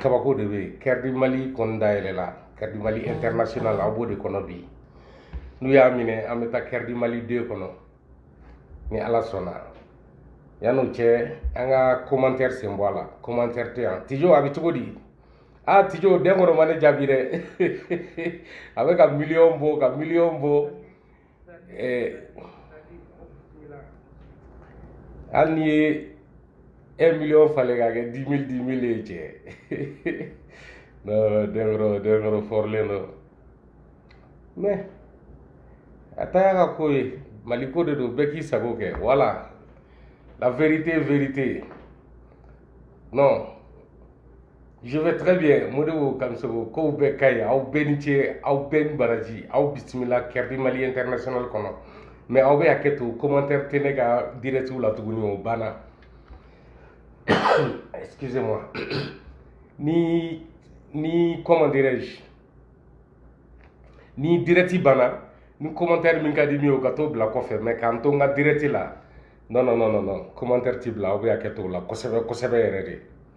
kabako de bɛ yen kɛridi mali kɔni dayɛlɛla kɛridi mali international aw b'o de kɔnɔ bi n'u y'a minɛ an bɛ taa kɛridi mali deux kɔnɔ ni ala sɔnna yanni o cɛ an ka commentaire sen bɔ a la commentaire tɛ yan tijo a bɛ cogo di aa tijo dɛnkɔrɔ ma ne jaabi dɛ a bɛ ka miliyɔn bɔ ka miliyɔn bɔ hali n'i ye un million falen k'a kɛ dix mille dix mille ye cɛ non dɛnkɔrɔ dɛnkɔrɔ fɔrilen don mais a ta y'a ka ko ye mali ko de don bɛɛ k'i sago kɛ voilà la vérité vérité non Je vais très bien Modibo Kamisoko kow bɛɛ ka ɲi aw bɛɛ ni ce aw bɛɛ ni baraji aw bisimila Kɛrɛdi Mali International kɔnɔ mais aw bɛ hakɛ to commentaire tɛ ne ka direct la tuguni o banna excusez moi ni ni comment dirais-je ni direct banna ni commentaire min ka di min ye o ka t'o bila kɔfɛ mais k'an to n ka direct la non non non non commentaire tɛ bila aw bɛ hakɛ to o la kosɛbɛ kosɛbɛ yɛrɛ de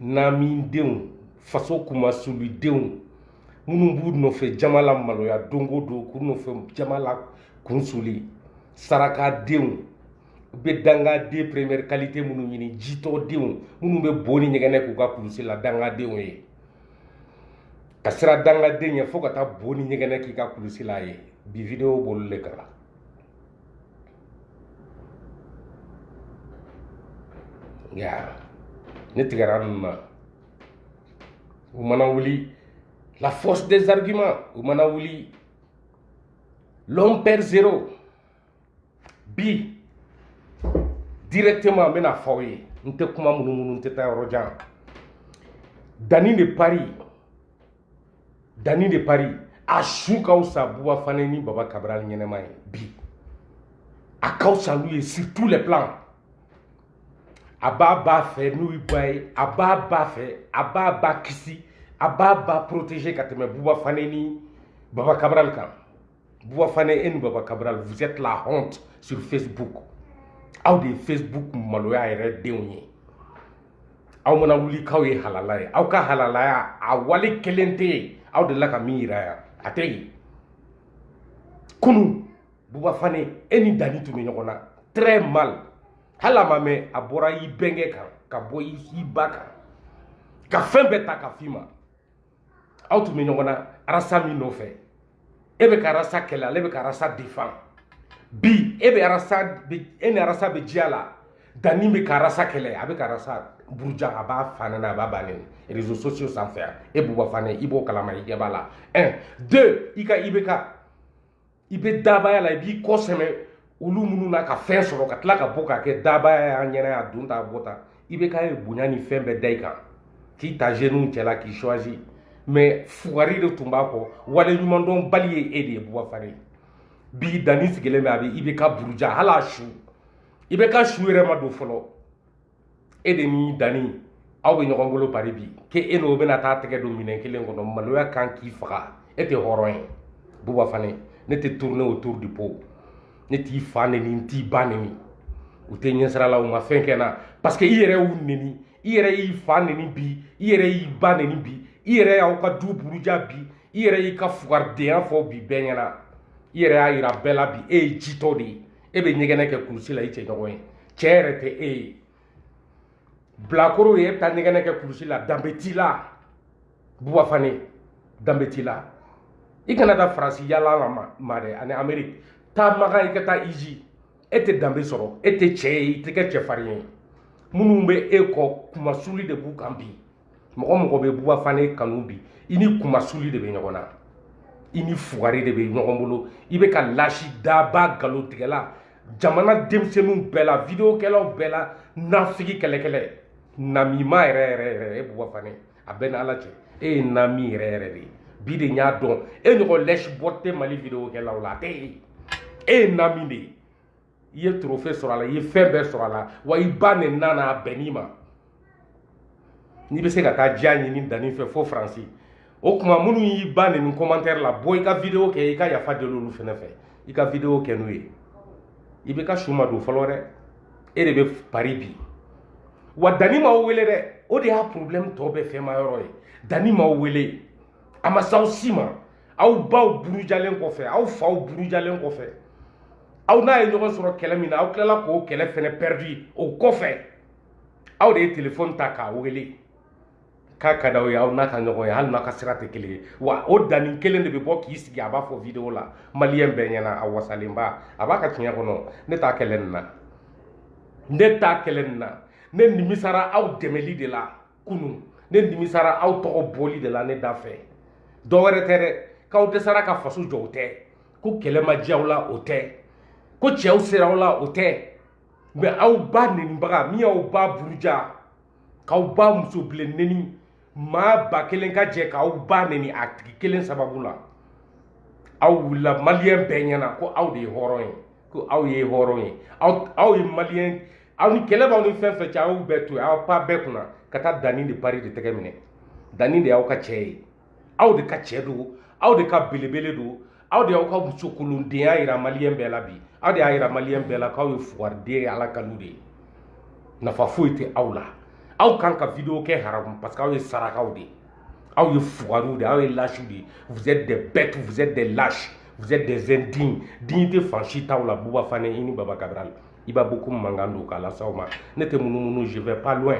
namindenw faso kunmasulidenw minnu b'u nɔfɛ jama lamaloya don o don k'u nɔfɛ jama lakunsuli sarakadenw u bɛ dangaden première qualité minnu ɲini jitɔdenw minnu bɛ bo ni ɲɛgɛnɛ k'u ka kulusi la dangadenw ye ka siran dangaden ɲɛ fo ka taa bo ni ɲɛgɛnɛ k'i ka kulusi la a ye bi video b'olu le kan nka ne tigɛra ninnu na u mana wuli la force des arguments u mana wuli l'homme peur zéro bi directement n bɛna fɔ aw ye n tɛ kuma munumunu n tɛ taa yɔrɔ jan dani de paris dani de paris a su ka fisa buba fane ni baba kabral ɲɛnama ye bi a ka fisa n'u ye sur tous les plans a b'a ba fɛ n'u y'i ba ye a b'a ba fɛ a b'a ba kisi a b'a ba protéger ka tɛmɛ buba fane ni baba kabral kan Bouba Fané e ni Baba Cabral, vous êtes la honte sur Facebook. Aw de Facebook maloya yɛrɛ denw ye. Aw mana wuli k'aw ye halala ye. Aw ka halalaya a wale kelen tɛ yen. Aw delila ka min yira yan. A tɛ yen. Kunu Bouba Fané e ni Dani tun bɛ ɲɔgɔn na très mal. Hali a ma mɛn a bɔra i bɛnkɛ kan ka bɔ i ba kan. Ka fɛn bɛɛ ta ka f'i ma. aw tun bɛ ɲɔgɔn na arasa min nɔfɛ e bɛ ka arasa kɛlɛ ale bɛ ka arasa defan bi e bɛ arasa e ni arasa bɛ diya la dani bɛ ka arasa kɛlɛ a bɛ ka arasa buruja a b'a fa neni a b'a ba neni réseaux sociaux sanfɛ e buba fane i b'o kalama i ɲɛ b'a la un deux i ka i bɛ ka i bɛ dabaya la i b'i kɔ sɛmɛ olu minnu na ka fɛn sɔrɔ ka tila ka bɔ k'a kɛ dabaya y'an ɲɛna yan don ta bɔ ta ibeka ye bonya ni fɛn bɛɛ da i kan k'i ta zeniw cɛla k'i choisi mɛ fugari de tun b'a kɔ waleɲumandɔnbali ye e de ye buba fane bi dani sigilen bɛ a bɛ ibeka buruja hali a su ibeka su yɛrɛ ma don fɔlɔ e de ni dani aw bɛ ɲɔgɔn bolo pari bi k'e e n'o bɛna taa tɛgɛ don minɛn kelen kɔnɔ maloya kan k'i faga e tɛ hɔrɔn ye buba fane ne tɛ tourne autour du pot ne t'i fa neni n t'i ba neni u tɛ ɲɛsira la u ma fɛn kɛ n na parce que i yɛrɛ y'u neni i yɛrɛ y'i fa neni bi i yɛrɛ y'i ba neni bi i yɛrɛ y'aw ka du buruja bi i yɛrɛ y'i ka fugaridenya fɔ bi bɛɛ ɲɛna i yɛrɛ y'a yira bɛɛ la bi e ye jitɔ de ye e bɛ ɲɛgɛnɛ kɛ kulusi la i cɛ ɲɔgɔn ye cɛ yɛrɛ tɛ e ye bilakoro ye e bɛ taa ɲɛgɛnɛ kɛ kulusi la danbe t'i la buba fane danbe t'i la i kana taa faransi yaala la ma dɛ ani ameriki taa makan i ka taa hiji e tɛ danbe sɔrɔ e tɛ cɛ ye i tɛ kɛ cɛfarin ye minnu bɛ e kɔ kunmasuli de b'u kan bi mɔgɔ mɔgɔ bɛ buba fane kanu bi i ni kunmasuli de bɛ ɲɔgɔn na i ni fugari de bɛ ɲɔgɔn bolo i bɛ ka lâche daba nkalontigɛla jamana denmisɛnninw bɛɛ la videokɛlaw bɛɛ la nafigi kɛlɛkɛlɛ namima yɛrɛ yɛrɛ yɛrɛ e buba fane a bɛ n ni ala cɛ e ye nami yɛrɛ yɛrɛ de ye bi de n y'a dɔn e ɲɔgɔn lèche-botte tɛ mali videokɛlaw la a tɛ ye e ye nami de ye i ye torofe sɔrɔ a la i ye fɛn bɛɛ sɔrɔ a la wa i ba nenina a bɛnn'i ma n'i bɛ se ka taa diya ɲini dani fɛ fo faransi o tuma minnu y'i ba neni kɔmantɛri la bɔ i ka videwo kɛ i ka yafa deli olu fɛnɛ fɛ i ka videwo kɛ n'u ye ibeka su ma don fɔlɔ dɛ e de bɛ pari bi wa dani m'aw wele dɛ o de y'a problème tɔ bɛɛ fɛnma yɔrɔ ye dani m'aw wele a ma s'aw si ma aw baw burujalen kɔfɛ aw faw burujalen kɔfɛ aw n'a ye ɲɔgɔn sɔrɔ kɛlɛ min na aw tilala k'o kɛlɛ fɛnɛ pɛridi o kɔfɛ aw de ye telefɔni ta k'a wele k'a ka d'aw ye aw n'a ka ɲɔgɔn ye hali n'a ka sira tɛ kelen ye wa o dani kelen de bɛ bɔ k'i sigi a b'a fɔ video la maliyɛn bɛɛ ɲɛna a wasalenba a b'a ka tiɲɛ kɔnɔ ne t'a kɛlɛ nin na ne t'a kɛlɛ nin na ne nimisara aw dɛmɛli de la kunu ne nimisara aw tɔgɔ bɔli de la ne da fɛ dɔ wɛrɛ tɛ dɛ k'aw dɛsɛra ka faso jɔ o tɛ ko kɛlɛ ma diya aw la o tɛ ko cɛw sera aw la o tɛ mɛ aw ba nenibaga min y'aw ba buruja k'aw ba muso bilen neni maa ba kelen ka jɛ k'aw ba neni a tigi kelen sababu la aw wulila maliyɛn bɛɛ ɲɛna ko aw de ye hɔrɔn ye ko aw ye hɔrɔn ye aw ye maliyɛn aw ni kɛlɛ b'aw ni fɛn fɛn cɛ aw bɛɛ to yen aw pan bɛɛ kunna ka taa danni de pari de tɛgɛ minɛ danni de y'aw ka cɛ ye aw de ka cɛ don aw de ka belebele don aw de y'aw ka muso kolondenya yira maliyɛn bɛɛ la bi aw de y'a yira maliyɛn bɛɛ la k'aw ye fugariden ye ala kanu de ye nafa foyi tɛ aw la aw kan ka video kɛ haramu parce que aw ye sarakaw de ye aw ye fugariw de aw ye lasiw de ye vous êtes des bêtes vous êtes des lâches vous êtes des indignes dignité fan si t'aw la buba fane i ni baba kabirali i b'a beaucoup mankan don k'a lase aw ma ne tɛ munumunu je vais pas loin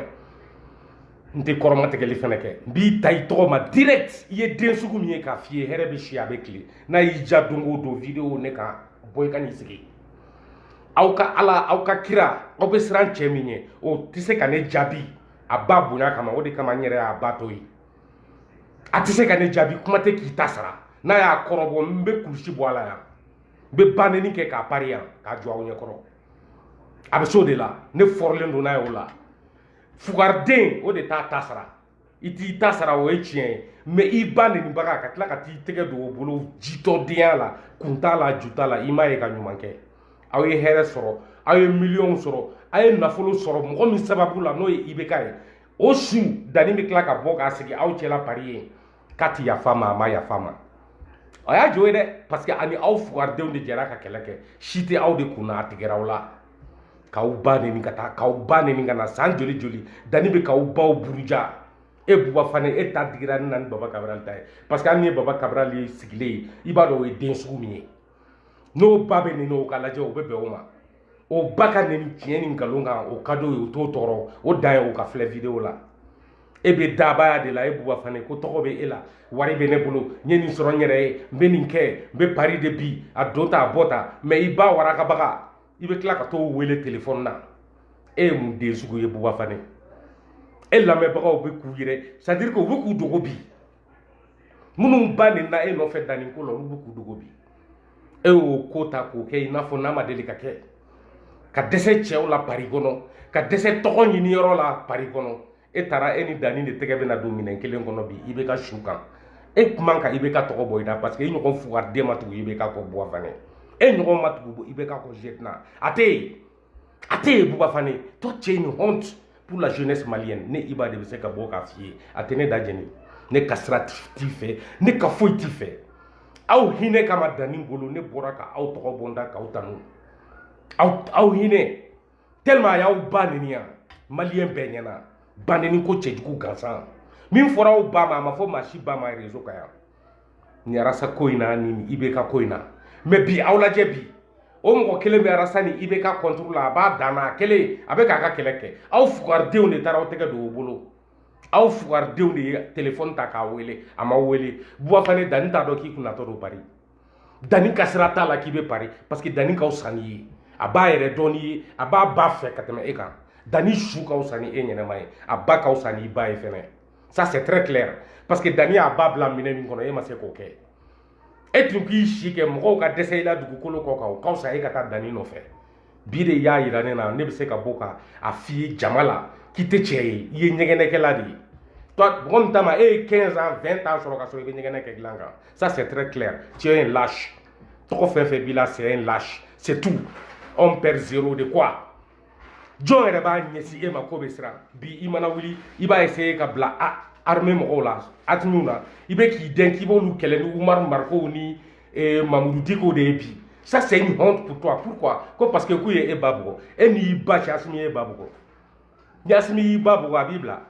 n tɛ kɔrɔmatigɛli fana kɛ n b'i ta i tɔgɔ ma direct i ye den sugu min ye k'a f'i ye hɛrɛ bɛ si a bɛ tile n'a y'i ja don o don video ne kan bɔ i ka n'i sigi aw ka ala aw ka kira aw bɛ siran cɛ min ye o tɛ se ka ne jaabi a ba bonya kama o de kama n yɛrɛ y'a ba to yen a tɛ se ka ne jaabi kuma tɛ k'i ta sara n'a y'a kɔrɔbɔ n bɛ kulusi bɔ a la yan n bɛ baneni kɛ k'a pari yan k'a jɔ aw ɲɛkɔrɔ a bɛ s'o de la ne fɔrɔlen don n'a ye o la fugariden o de t'a ta sara i t'i ta sara o ye tiɲɛ ye mɛ i ba nenibaga ka tila ka t'i tɛgɛ don o bolo jitɔdenya la kun t'a la ju t'a la i m'a ye ka ɲuman kɛ aw ye hɛrɛ sɔrɔ aw ye miliyɔnw sɔrɔ aw ye nafolo sɔrɔ mɔgɔ min sababu la n'o ye ibk ye o su danni bɛ tila ka bɔ k'a sigi aw cɛla pari yen k'a ti yafa ma a ma yafa ma a y'a jo ye dɛ parce que a ni aw fugaridenw de jɛra ka kɛlɛ kɛ si tɛ aw de kun na a tigɛra aw la k'aw ba neni ka taa k'aw ba neni ka na san joli joli danni bɛ k'aw baw buruja e buba fane e ta digira ne na ni baba kabiral ta ye parce que hali n'i ye baba kabiral ye sigilen ye i b'a dɔn o ye den sugu min ye n'o ba bɛ neni o ka lajɛ o bɛ bɛn o ma o ba ka neni tiɲɛ ni nkalon kan o ka d'o ye o t'o tɔɔrɔ o dan ye o ka filɛ video la e bɛ dabaya de la e buba fane ko tɔgɔ bɛ e la wari bɛ ne bolo n ye nin sɔrɔ n yɛrɛ ye n bɛ nin kɛ n bɛ pari de bi a don ta a bɔ ta mɛ i ba warakabaga i bɛ tila ka t'o wele telefɔni na e ye mun den sugu ye buba fane e lamɛnbagaw bɛ k'u yɛrɛ c'est à dire que u bɛ k'u dogo bi minnu ba nenina e nɔfɛ danni ko la olu bɛ k'u dogo bi e y'o ko ta k'o kɛ i n'a fɔ n'a ma deli ka kɛ ka dɛsɛ cɛw la pari kɔnɔ ka dɛsɛ tɔgɔ ɲini yɔrɔ la pari kɔnɔ e taara e ni danni de tɛgɛ bɛna don minɛn kelen kɔnɔ bi ibk su kan e kuma kan ibk tɔgɔ bɔ i la parce que i ɲɔgɔn fugariden ma tugu ibk kɔ buba fane e ɲɔgɔn ma tugu ibk kɔ zetina a tɛ yen a tɛ yen buba fane tɔ c'est une honte pour la jeunesse malienne ne iba de bɛ se ka bɔ k'a f'i ye a tɛ ne da jɛni ne ka sira t'i fɛ ne ka foyi t'i fɛ aw hinɛ kama dani bolo ne bɔra ka aw tɔgɔ bɔ n da k'aw tanu aw aw hinɛ tellement a y'aw ba neni yan maliyɛn bɛɛ ɲɛna banɛni ko cɛjugu gansan min fɔra aw ba ma a ma fɔ maa si ba ma réseau kan yan ni arasa ko in na ni ibk ko in na mais bi aw lajɛ bi o mɔgɔ kelen bɛ arasa ni ibk contre la a b'a dan na a kelen a bɛ k'a ka kɛlɛ kɛ aw fugaridenw de taara aw tɛgɛ don o bolo aw fugaridenw de ye telefɔni ta k'a wele a ma wele buba fane dani t'a dɔn k'i kunatɔ don bari dani ka sira t'a la k'i bɛ pari parce que dani ka wusa n'i ye a b'a yɛrɛ dɔn n'i ye a b'a ba fɛ ka tɛmɛ e kan dani su ka wusa ni e ɲɛnama ye a ba ka wusa n'i ba ye fɛnɛ ça c'est très clair parce que dani y'a ba bila minɛn min kɔnɔ e ma se k'o kɛ e tun k'i si kɛ mɔgɔw ka dɛsɛ i la dugukolo kɔ kan o ka fisa e ka taa dani nɔfɛ bi de y'a yira ne na ne bɛ se ka bɔ ka a f'i ye jama la k'i tɛ cɛ ye i ye ɲɛgɛnɛkɛla de ye mɔgɔ min ta ma e ye 15 ans 20 ans sɔrɔ ka sɔrɔ i bɛ ɲɛgɛnɛ kɛ dilan kan ça c'est très clair tu es un lâche tɔgɔ fɛn fɛn b'i la c'est un lâche c'est tout on perd zéro de quoi jɔn yɛrɛ b'a ɲɛsin e ma k'o bɛ siran bi i mana wuli i b'a essayer ka bila a armée mɔgɔw la asimiw na i bɛ k'i dɛn k'i b'olu kɛlɛ ni umaru marikow ni eh, mamudu dikow de ye bi ça c'est une honte pour toi pourquoi ko parce que k'u ye e ba bugɔ e n'i ba cɛ asimi ye e ba bugɔ ni asimi y'i ba bugɔ a b'i bila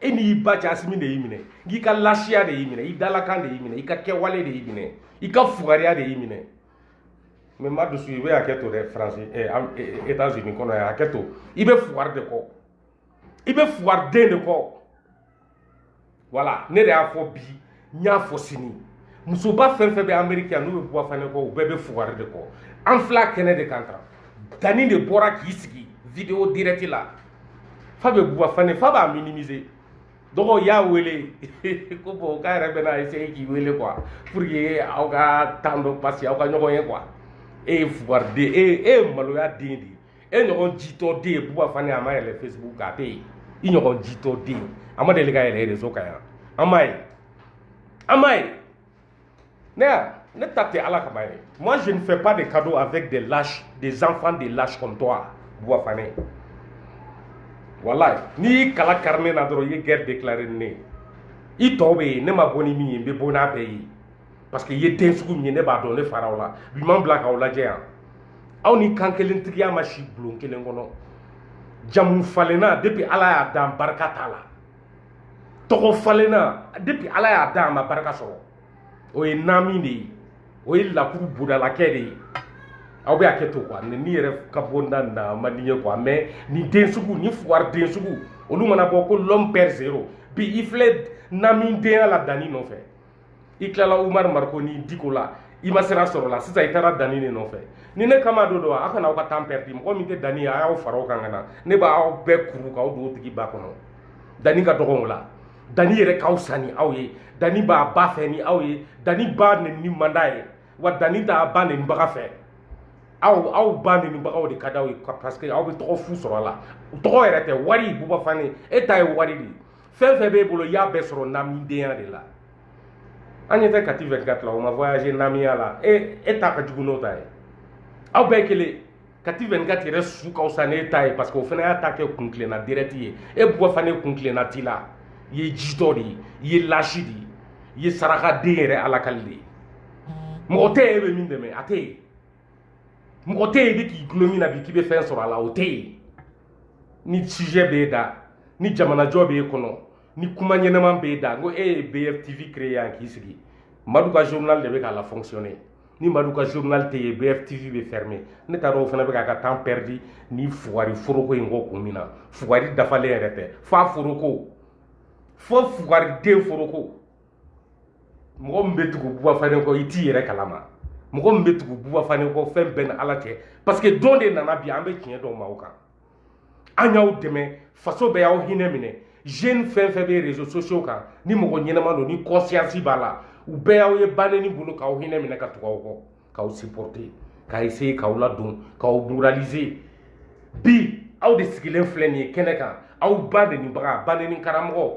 e n'i ba cɛ asimi de y'i minɛ k'i ka lasiya de y'i minɛ i dalakan de y'i minɛ i ka kɛwale de y'i minɛ i ka fugariya de y'i minɛ mais madusu i bɛ hakɛ to dɛ faransi etats unis kɔnɔ yan hakɛ to i bɛ fugari de kɔ i bɛ fugari den de kɔ voilà ne de y'a fɔ bi n y'a fɔ sini musoba fɛn fɛn bɛ ameriki yan n'u bɛ buba fane kɔ u bɛɛ bɛ fugari de kɔ an fila kɛnɛ de kan kan dani de bɔra k'i sigi video direct la fa bɛ buba fane fa b'a minimiser dɔgɔ y'a wele ko bon k'a yɛrɛ bɛna essayer k'i wele quoi pour que aw ka temps dɔ parce que aw ka ɲɔgɔn ye quoi e ye fugariden de ye e ye maloya den de ye e ɲɔgɔn jitɔ den ye buba fane a ma yɛlɛ facebook a tɛ yen i ɲɔgɔn jitɔ den a ma deli ka yɛlɛ rezo kan yan an m'a ye an m'a ye ne y'a ne ta tɛ ala kama ye moi je ne fais pas de cadeau avec des lâches des enfants des lâches comme toi buba fane walayi n'i y'i kala kari ne na dɔrɔn i ye guerre déclaré ni ne ye i tɔw bɛ yen ne ma bɔ ni min ye n bɛ bɔ n'a bɛɛ ye parce que i ye den sugu min ye ne b'a dɔn ne faraw la bi man bila k'aw lajɛ yan aw ni kan kelen tigiya ma si bulon kelen kɔnɔ jamu falenna depuis ala y'a dan barika t'a la tɔgɔ falenna depuis ala y'a dan a ma barika sɔrɔ o ye naami de ye o ye lakuru bodalakɛ de ye aw bɛ a kɛ to kuwa ni yɛrɛ ka bɔ na na man di n ye kuwa mɛ ni den sugu ni fugariden sugu olu mana bɔ ko l'homme peur zéro bi i filɛ namidenya la danni nɔfɛ i tilala umar mariko ni diko la i ma sira sɔrɔ la sisan i taara danni de nɔfɛ ni ne kama do don a kana aw ka tan pɛridi mɔgɔ min tɛ danni a y'aw fara o kan ka na ne b'aw bɛɛ kuru k'aw don o tigi ba kɔnɔ danni ka dɔgɔn o la danni yɛrɛ ka fisa ni aw ye danni b'a ba fɛ ni aw ye danni ba nenni man d'a ye wa danni t'a ba nennibaga fɛ aw aw ba nenibagaw de ka d'aw ye parce que aw bɛ tɔgɔ fu sɔrɔ a la tɔgɔ yɛrɛ tɛ wari buba fane e ta ye wari de ye fɛn fɛn b'e bolo i y'a bɛɛ sɔrɔ namidenya de la an ɲɛ tɛ kati 24 la o ma voyage namiya la e e ta ka jugu n'o ta ye aw bɛɛ kelen kati 24 yɛrɛ su ka fisa n'e ta ye parce que o fana y'a ta kɛ kuntilenna direct ye e buba fane kuntilenna t'i la i ye jitɔ de ye i ye lâche de ye i ye sarakaden yɛrɛ alakali de ye mɔgɔ tɛ yen e bɛ min dɛmɛ a tɛ yen mɔgɔ tɛ yen i bɛ k'i gulon min na bi k'i bɛ fɛn sɔrɔ a la o tɛ yen ni sujet b'e da ni jamanajɔ b'e kɔnɔ ni kuma ɲɛnaman b'e da ko e ye bftv créer yan k'i sigi madu ka journal de bɛ k'a la fonctionner ni madu ka journal tɛ yen bftv bɛ fermer ne t'a dɔn o fana bɛ k'a ka temps perdu ni fugari foroko in kɔ kun min na fugari dafalen yɛrɛ tɛ f'a foroko fo fugariden foroko mɔgɔ min bɛ tugu buba fane kɔ i t'i yɛrɛ kalama mɔgɔ min bɛ tugu buba fane kɔ fɛn b'i n'ala cɛ parce que don de nana bi an bɛ tiɲɛ dɔw ma aw kan an y'aw dɛmɛ faso bɛɛ y'aw hinɛ minɛ jeune fɛn fɛn bɛ réseaux sociaux kan ni mɔgɔ ɲɛnama don ni conscience b'a la u bɛɛ y'aw ye baneni bolo k'aw hinɛ minɛ ka tugu aw kɔ k'aw supporter ka essayer k'aw ladon k'aw moraliser bi aw de sigilen filɛ nin ye kɛnɛ kan aw ba nenibaga baneni karamɔgɔ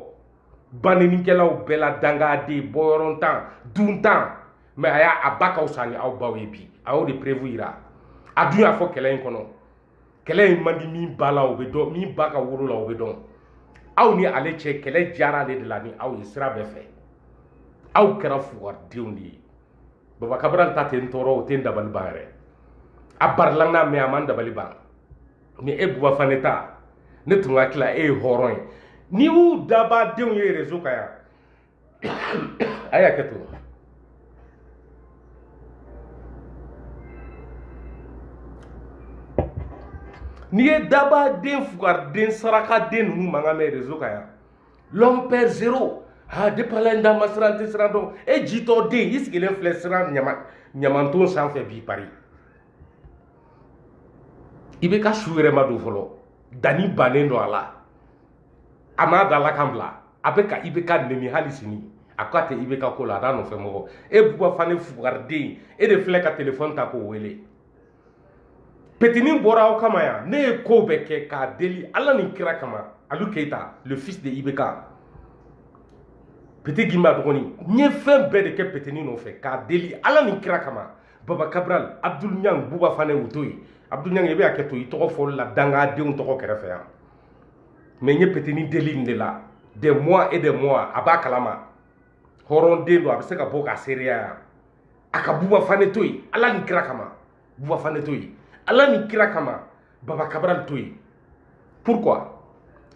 banenikɛlaw bɛɛ la dangaden bɔyɔrɔntan duntan mais a y'a a ba ka fisa ni aw baw ye bi a y'o de preuve yira a dun y'a fɔ kɛlɛ in kɔnɔ kɛlɛ in man di min ba la o bɛ dɔn min ba ka woro la o bɛ dɔn aw ni ale cɛ kɛlɛ diyara ale de la ni aw ye sira bɛɛ fɛ aw kɛra fugadenw de ye baba kabral ta tɛ n tɔɔrɔ o tɛ n dabali ban yɛrɛ a barilanga mais a ma n dabali ban ni e buba fane ta ne tun hakili la e ye hɔrɔn ye n'i y'u dabaa denw ye rezo kan yan a ye hakɛ to n'i ye dabaa den fugari den saraka den ninnu mankan mɛn rezo kan yan l'homme père zéro ha depala n da ma siran n tɛ siran dɔn e jitɔ den i sigilen filɛ siran ɲamanton sanfɛ bi paris i bɛ ka su yɛrɛ ma don fɔlɔ danni bannen don a la a m'a da ala kan bila a bɛ ka i bɛ k'a nɛni hali sini a ko a tɛ i bɛ ka ko la a t'a nɔfɛ mɔgɔ e buba fane fugariden e de filɛ ka telefɔni ta k'o wele petini bɔra aw kama yan ne ye ko bɛɛ kɛ k'a deli ala ni kira kama alu keyita le fils de ibeka petit gimba dɔgɔnin n ye fɛn bɛɛ de kɛ petini nɔfɛ k'a deli ala ni kira kama baba kabral abdul ñang buba fane o to yen abdul ñang i bɛ hakɛ to i tɔgɔ fɔli la dangadenw tɔgɔ kɛrɛfɛ yan mais n ye petini deli nin de la des mois et des mois a b'a kalama hɔrɔnden don a bɛ se ka bɔ k'a seereya yan a ka buba fane to yen ala ni kira kama buba fane to yen ala ni kira kama baba kabral to yen pourquoi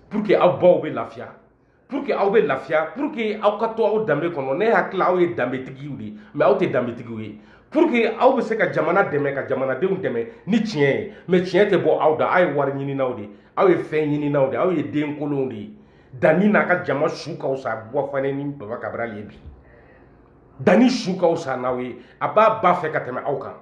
pour que aw baw bɛ lafiya pour que aw bɛ lafiya pour que aw ka to aw danbe kɔnɔ ne hakili la aw ye danbetigiw de ye mais aw tɛ danbetigiw ye pour que aw bɛ se ka jamana dɛmɛ ka jamanadenw dɛmɛ ni tiɲɛ ye mais tiɲɛ tɛ bɔ aw da aw ye wari ɲininaw de ye aw ye fɛn ɲininaw de ye aw ye den kolonw de ye danni n'a ka jama su ka fisa buba fane ni baba kabral ye bi danni su ka fisa n'aw ye a b'a ba fɛ ka tɛmɛ aw kan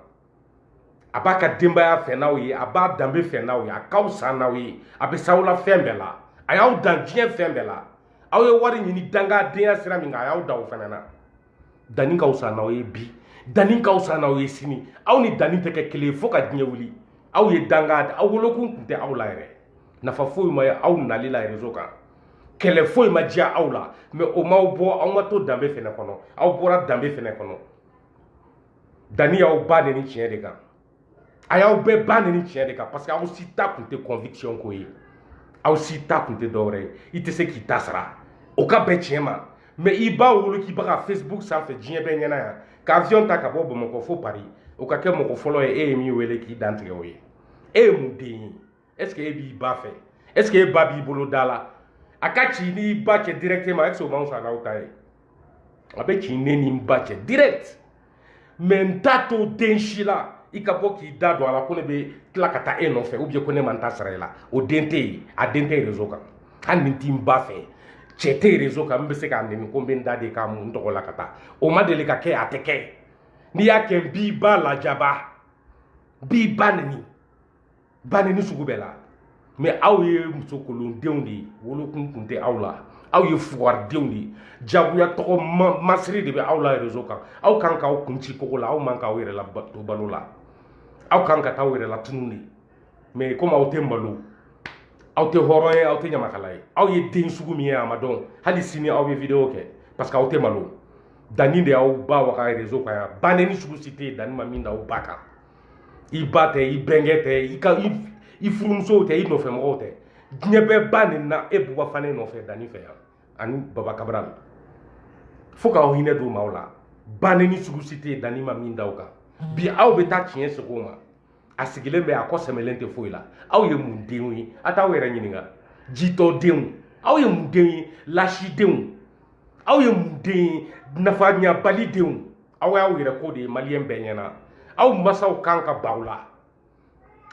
a b'a ka denbaya fɛ n'aw ye a b'a danbe fɛ n'aw ye a ka fisa n'aw ye a bɛ s'aw la fɛn bɛɛ la a y'aw dan diɲɛ fɛn bɛɛ la aw ye wari ɲini dangadenya sira min kan a y'aw dan o fana na danni ka fisa n'aw ye bi danni ka fisa n'aw ye sini aw ni danni tɛ kɛ kelen ye fo ka diɲɛ wuli aw ye danga aw wolokun tun tɛ aw la yɛrɛ nafa foyi ma ye aw nali la rezo kan kɛlɛ foyi ma diya aw la mais o m'aw bɔ aw ma to danbe fɛnɛ kɔnɔ aw bɔra danbe fɛnɛ kɔnɔ danni y'aw ba nɛni tiɲɛ de kan a y'aw bɛɛ ba nɛni tiɲɛ de kan parce que aw si ta tun tɛ conviction ko ye aw si ta tun tɛ dɔwɛrɛ ye i tɛ se k'i ta sara o ka bɛn tiɲɛ ma mais i b'a wolo k'i bɛ ka facebook sanfɛ diɲɛ bɛɛ ɲɛna yan ka avion ta ka bɔ bamakɔ fo paris o ka kɛ mɔgɔ fɔlɔ ye e ye min wele k'i dantigɛ o ye e ye mun den ye est ce que e b'i ba fɛ est ce que e ba b'i bolo da la a ka ci n'i ba cɛ directement est ce que o man fisa n'aw ta ye a bɛ ci ne ni n ba cɛ direct mais n t'a to den si la i ka bɔ k'i da don a la ko ne bɛ tila ka taa e nɔfɛ ou bien ko ne man ta sara i la o den tɛ yen a den tɛ réseau kan hali ni n tɛ n ba fɛ cɛ tɛ réseau kan n bɛ se k'a nɛni ko n bɛ n da de k'a mun n tɔgɔ la ka taa o ma deli ka kɛ a tɛ kɛ n'i y'a kɛ n b'i ba lajaba n b'i ba nɛni ba nenini sugu bɛɛ lamɛn aw ye musokolondenw de ye wolokun kun tɛ aw la aw ye fugaridenw de ye jagoya tɔgɔ masiri de bɛ aw la rezo kan aw kan k'aw kun ci kogo la aw man k'aw yɛrɛ la to balo la aw kan ka taa aw yɛrɛ latunun de mais komi aw tɛ malo aw tɛ hɔrɔn ye aw tɛ ɲamakala ye aw ye den sugu min ye a ma dɔn hali sini aw bɛ video kɛ parce que aw tɛ malo danni de y'aw ba waga rezo kan yan ba nenini sugu si tɛ yen danni ma min da aw ba kan i ba tɛ i bɛnkɛ tɛ i ka i furumusow tɛ i nɔfɛ mɔgɔw tɛ diɲɛ bɛɛ ba nenina e buba fane nɔfɛ danni fɛ yan ani baba kabral la fo k'aw hinɛ don maaw la ba nenini sugu si tɛ yen danni ma min da o kan bi aw bɛ taa tiɲɛ sigi o ma a sigilen bɛ a kɔ sɛmɛlen tɛ foyi la aw ye mun denw ye a t'aw yɛrɛ ɲininka jitɔ denw aw ye mun denw ye laasidenw aw ye mun den ye nafa ɲabali denw aw y'aw yɛrɛ ko de ye maliyɛn bɛɛ ɲɛna aw masaw kan ka ban aw la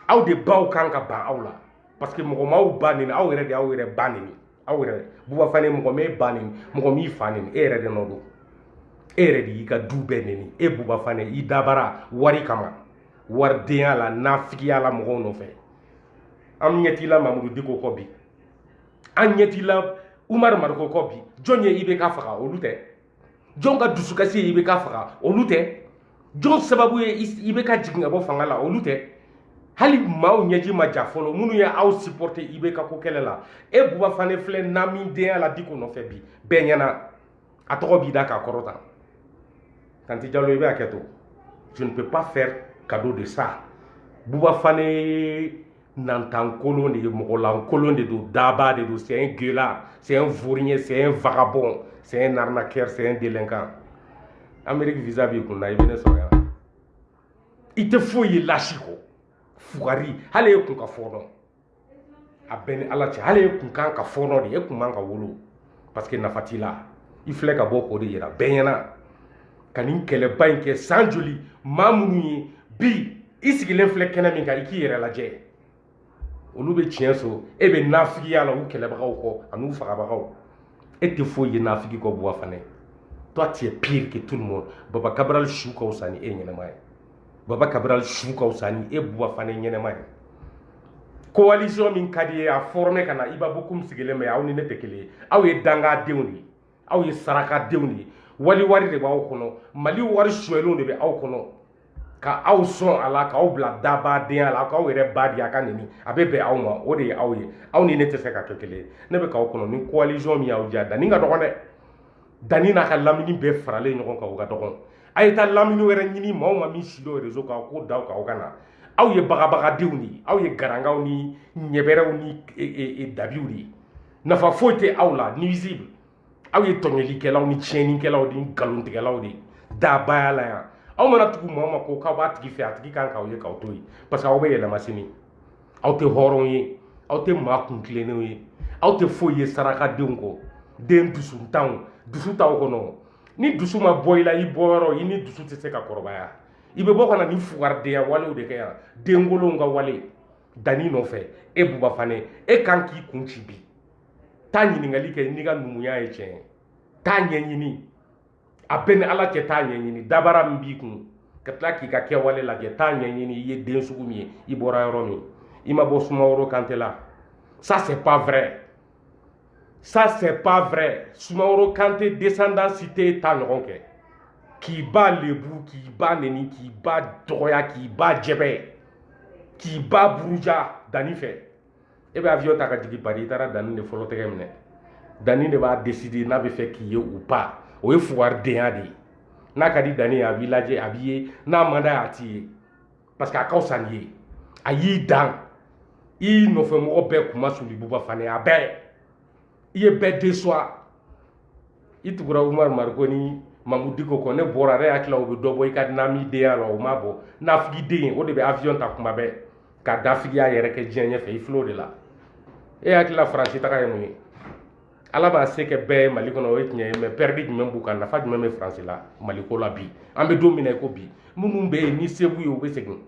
aw de baw kan ka ban aw la parce que mɔgɔ m'aw ba neni aw yɛrɛ de y'aw yɛrɛ ba neni aw yɛrɛ buba fane mɔgɔ m'e ba neni mɔgɔ m'i fa neni e yɛrɛ de nɔ don e yɛrɛ de y'i ka du bɛɛ neni e buba fane i dabara wari kama waridenya la nafigiya la mɔgɔw nɔfɛ an ɲɛtila mamudu diko kɔ bi an ɲɛtila umar mariko kɔ bi jɔn ye IBK faga olu tɛ jɔn ka dusukasi ye IBK faga olu tɛ jɔn sababu ye IBK jigin ka bɔ fanga la olu tɛ hali maaw ɲɛji ma ja fɔlɔ minnu ye aw supporter IBK ko kɛlɛ la e buba fane filɛ naami denya la diko nɔfɛ bi bɛɛ ɲɛna a tɔgɔ b'i da k'a kɔrɔta tanti jalo i bɛ hakɛto je ne peux pas faire cadeau de ça buba fane nantankolon de ye mɔgɔlankolon de don daba de don c'est un gueulard c'est un vaurien c'est un vagabond c'est un arnaqueur c'est un délinquant amérique visa b'i kun na i bɛ ne sɔrɔ yan i tɛ foyi ye lasi kɔ fugari hali e kun ka fɔɔnɔ a bɛ n ni ala cɛ hali e kun kan ka fɔɔnɔ de e kun man ka wolo parce que nafa t'i la i filɛ ka bɔ k'o de yira bɛɛ ɲɛna ka nin kɛlɛba in kɛ san joli maa minnu ye bi i sigilen filɛ kɛnɛ min kan i k'i yɛrɛ lajɛ olu bɛ tiɲɛ so e bɛ nafigiya la u kɛlɛbagaw kɔ an'u fagabagaw e tɛ foyi ye nafigi kɔ buba fane toi tu es pire que tout le monde baba kabral su ka fisa ni e ɲɛnama ye baba kabral su ka fisa ni e buba fane ɲɛnama ye coalition min ka di ye a forme ka na iba bokum sigilen bɛ aw ni ne tɛ kelen ye aw ye dangadenw de ye aw ye sarakadenw de ye wali wari de b'aw kɔnɔ mali wari sonyɛlenw de bɛ aw kɔnɔ ka aw sɔn a la k'aw bila dabadenya la k'aw yɛrɛ ba di a ka neni a bɛ bɛn aw ma o de ye aw ye aw ni ne tɛ se ka kɛ kelen ye ne bɛ k'aw kɔnɔ ni coalition min y'aw diya danni ka dɔgɔn dɛ dani n'a ka lamini bɛɛ faralen ɲɔgɔn kan o ka dɔgɔn a ye taa lamini wɛrɛ ɲini maa o maa min si dɔ rezo kan ko daw kan o ka na aw ye bagabagadenw de ye aw ye garangaw ni ɲɛbɛrɛw ni e, e, e, dabiw de ye nafa foyi tɛ aw la nuisible aw ye tɔɲɔlikɛlaw ni tiɲɛnikɛlaw ni nkalontigɛlaw de ye dabaya la yan aw mana tugu maa o maa ko k'aw b'a tigi fɛ a tigi kan k'aw ye k'aw to yen parce que aw bɛ yɛlɛma sini aw tɛ hɔrɔn ye aw tɛ maa kun tilennenw ye aw tɛ foyi ye sarakadenw kɔ den dusutanw dusu t'aw kɔnɔ ni dusu ma bɔ i la i bɔyɔrɔ i ni dusu tɛ se ka kɔrɔbaya i bɛ bɔ ka na ni fugaridenya walew de kɛ yan denkolonw ka wale dani nɔfɛ e buba fane e kan k'i kun ci bi taa ɲininkali kɛ n'i ka numuya ye tiɲɛ ye t'a ɲɛɲini a b'e ni ala cɛ t'a ɲɛɲini dabara min b'i kun ka tila k'i ka kɛwale lajɛ t'a ɲɛɲini i ye den sugu min ye i bɔra yɔrɔ min i ma bɔ sumaworo kante la ça c'est pas vrai ça c'est pas vrai sumaworo kante descendant si t'e ta ɲɔgɔn kɛ k'i ba lebu k'i ba neni k'i ba dɔgɔya k'i ba jɛbɛ k'i ba buruja dani fɛ e bɛ avion ta ka jigin Paris i taara dani de fɔlɔ tɛgɛ minɛ dani de b'a décider n'a bɛ fɛ k'i ye ou pas o ye fugaridenya de ye n'a ka di dani ye a b'i lajɛ a b'i ye n'a man d'a ye a t'i ye parce que a ka fisa n'i ye a y'i dan i nɔfɛ mɔgɔ bɛɛ kunmasuli buba fane a bɛɛ i ye bɛɛ décevoir i tugura umar mariko ni mamudu diko kɔ ne bɔra ne hakili la u bɛ dɔ bɔ i ka nami denya la o ma bɔ nafigiden o de bɛ avion ta kuma bɛɛ ka nafigiya yɛrɛ kɛ diɲɛ ɲɛfɛ i fil'o de la e hakili la faransi taga ye mun ye ala ma se kɛ bɛɛ ye mali kɔnɔ o ye tiɲɛ ye mɛ pɛridi jumɛn b'u kan nafa jumɛn bɛ faransi la mali ko la bi an bɛ don min na i ko bi minnu bɛ yen ni se b'u ye u bɛ segin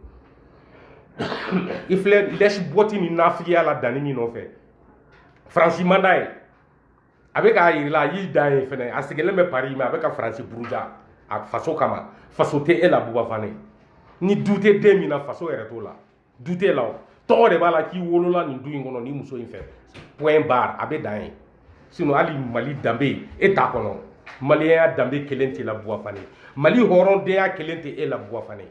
i filɛ lèche-botte ni nafigiya la dani min nɔfɛ faransi man d'a ye a bɛ k'a yirila a y'i dan yen fɛnɛ a sigilen bɛ pari mɛ a bɛ ka faransi buruja a faso kama faso tɛ e la buba fane ni du tɛ den min na faso yɛrɛ t'o la du t'e la o tɔgɔ de b'a la k'i wolola nin du in kɔnɔ nin muso in fɛ point barre a bɛ dan yen sinon hali mali danbe e t'a kɔnɔ maliyɛnya danbe kelen t'i la buba fane mali hɔrɔndenya kelen tɛ e la buba fane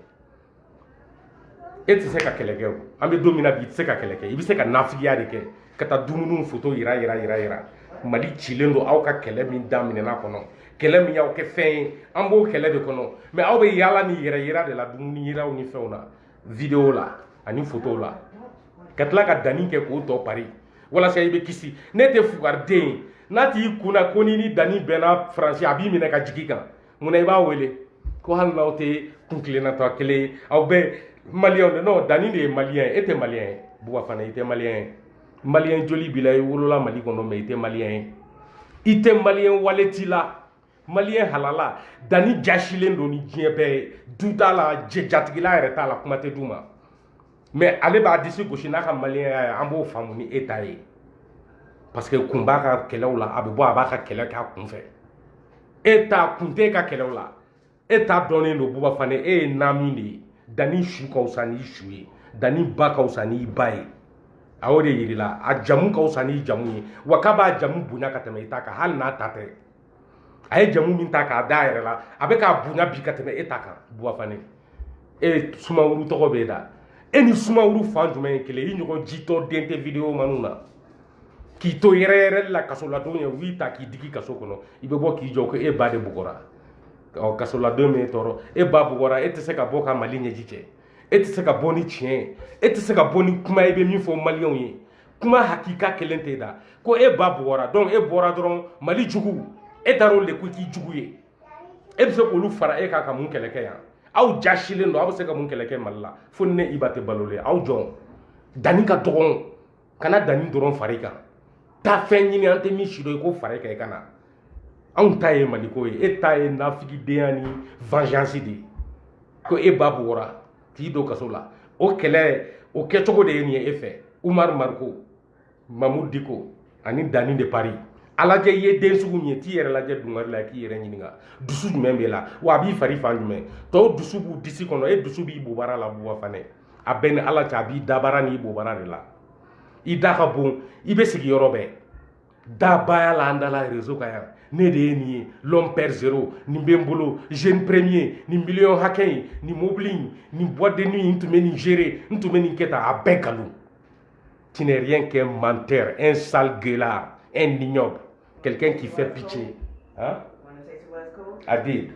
e tɛ se ka kɛlɛ kɛ o an bɛ don min na bi i tɛ se ka kɛlɛ kɛ i bɛ se ka nafigiya de kɛ ka taa dumuniw foto yira yira yira yira mali cilen don aw ka kɛlɛ min daminɛna kɔnɔ kɛlɛ min y'aw kɛ fɛn ye an b'o kɛlɛ de kɔnɔ mɛ aw bɛ yaala ni yɛrɛ yira de la dumuni yiraw ni fɛnw na videwo la ani fotow la ka tila ka dani kɛ k'o tɔ pari walasa i bɛ kisi n'e tɛ fugariden ye n'a t'i kun na ko n'i ni dani bɛnna faransi a b'i minɛ ka jigin kan mun na i b'a wele ko hali n'aw tɛ kuntilenna ta kelen ye aw bɛɛ maliyɛnw de non dani de ye maliyɛn ye e tɛ maliyɛn ye buba fane i tɛ maliyɛn ye maliyɛn joli b'i la i wolola mali kɔnɔ mais i tɛ maliyɛn ye i tɛ maliyɛn wale t'i la maliyɛn halala dani jasilen don ni diɲɛ bɛɛ ye du t'a la jɛ jatigila yɛrɛ t'a la kuma tɛ du ma mais ale b'a disi gosi n'a ka maliyɛnya ye an b'o faamu ni e ta ye parce que kun b'a ka kɛlɛw la a bɛ bɔ a b'a ka kɛlɛ k'a kun fɛ e ta kun tɛ e ka kɛlɛw la e ta dɔnnen don buba fane e ye naamin de ye dani su ka fisa n'i su ye dani ba ka fisa n'i ba ye a y'o de yirila a jamu ka fisa n'i jamu ye wa k'a b'a jamu bonya ka tɛmɛ i ta kan hali n'a ta tɛ a ye jamu min ta k'a da a yɛrɛ la a bɛ k'a bonya bi ka tɛmɛ e ta kan buba fane e sumaworo tɔgɔ bɛ e da e ni sumaworo fan jumɛn ye kelen i ɲɔgɔn jitɔ den tɛ video mɛnna k'i to yɛrɛyɛrɛ la kasoladon ye u y'i ta k'i digi kaso kɔnɔ i bɛ bɔ k'i jɔ ko e ba de bugɔra ɔ kasoladon m'i tɔɔrɔ e ba bugɔra e tɛ se ka bɔ ka mali ɲɛji cɛ e tɛ se ka bɔ ni tiɲɛ ye e tɛ se ka bɔ ni kuma i bɛ min fɔ maliyɛnw ye kuma hakika kelen t'i da ko e ba bugɔra donc e bɔra dɔrɔn mali jugu e taara olu de kɔ k'i jugu ye e bɛ se k'olu fara e kan ka mun kɛlɛ kɛ yan aw jasilen don aw bɛ se ka mun kɛlɛ kɛ mali la fo ni ne iba tɛ balolen aw jɔn dani ka dɔgɔn kana dani dɔrɔn fara i kan taa fɛn ɲini an tɛ min si dɔn i k'o fara i kan i ka na anw ta ye maliko ye e ta ye nafigidenya ni vengeance de ye ko e ba bugɔra k'i don kaso la o kɛlɛ o kɛcogo de ye nin ye e fɛ umaru mariko mamoud diko ani dani de paris a lajɛ i ye den sugu min ye t'i yɛrɛ lajɛ dungari la k'i yɛrɛ ɲininka dusu jumɛn b'e la wa a b'i fari fan jumɛn tɔw dusu b'u disi kɔnɔ e dusu b'i bobara la buba fane a bɛ n ni ala cɛ a b'i dabara n'i bobara de la i da ka bon i bɛ sigi yɔrɔ bɛɛ dabaya la an da la réseau kan yan ne de ye nin ye l'homme père zéro nin bɛ n bolo jeune premier nin miliyɔn hakɛ in nin mobili in nin boîte de nuit in n tun bɛ nin gérer n tun bɛ nin kɛ tan a bɛɛ nkalon tu n'es rien qu'un menteur un sale gueulard un ignoble quelqu'un qui fait pitié hein? I did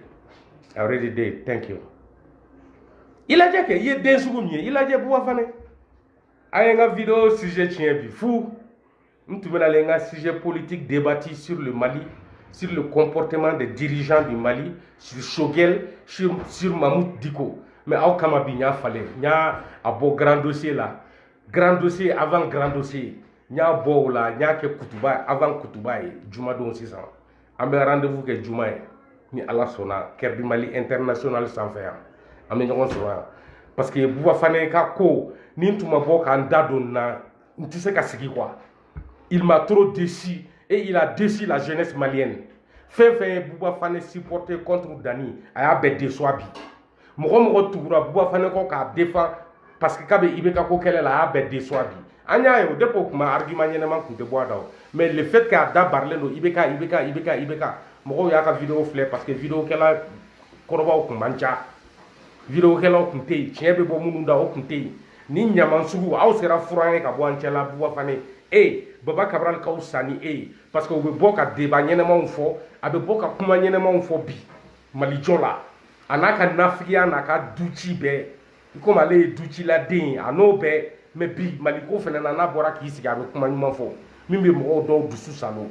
I already did thank you i lajɛ kɛ i ye den sugu min ye i lajɛ buba fane a ye n ka video sujet tiɲɛ bi fu n tun bɛna n ka sujet politique debati sur le mali sur le comportement des dirigeants du mali sur choguel sur, sur mamoud diko mais aw kama bi n y'a falen n y'a a bɔ grand dossier la grand dossier avant grand dossier n y'a bɔ o la n y'a kɛ kutuba avant kutuba ye jumadon sisan an bɛ rendez-vous kɛ juma ye ni ala sɔnna kɛrɛdi mali international sanfɛ yan an bɛ ɲɔgɔn sɔrɔ yan parce que buba fane ka ko ni n tun ma bɔ ka n da don na n tɛ se ka sigi quoi il m'a trop déçu et il a déçu la jeunesse malienne fɛn fɛn ye buba fane supporté contre dani a y'a bɛɛ déçoit bi mɔgɔ o mɔgɔ tugura buba fane kɔ k'a défend parce que k'a bɛ ibeka ko kɛlɛ la a y'a bɛɛ déçoit bi an y'a ye o depuis o kuma argument ɲɛnama kun tɛ bɔ a da o mais le fait k'a da barilen don ibeka ibeka ibeka ibeka mɔgɔw y'a ka video filɛ parce que videokɛla kɔrɔbaw kun man ca videokɛlaw kun tɛ yen tiɲɛ bɛ bɔ minnu da o kun tɛ yen ni ɲaman sugu aw sera furan ye ka bɔ an cɛla buba fane e baba kabral ka wusa ni e ye parce que o bɛ bɔ ka deba ɲɛnamaw fɔ a bɛ bɔ ka kuma ɲɛnamaw fɔ bi mali jɔ la a n'a ka nafigiya n'a ka duci bɛɛ i komi ale ye duciladen ye a n'o bɛɛ mɛ bi maliko fɛnɛ na n'a bɔra k'i sigi a bɛ kuma ɲuman fɔ min bɛ mɔgɔw dɔw dusu saalo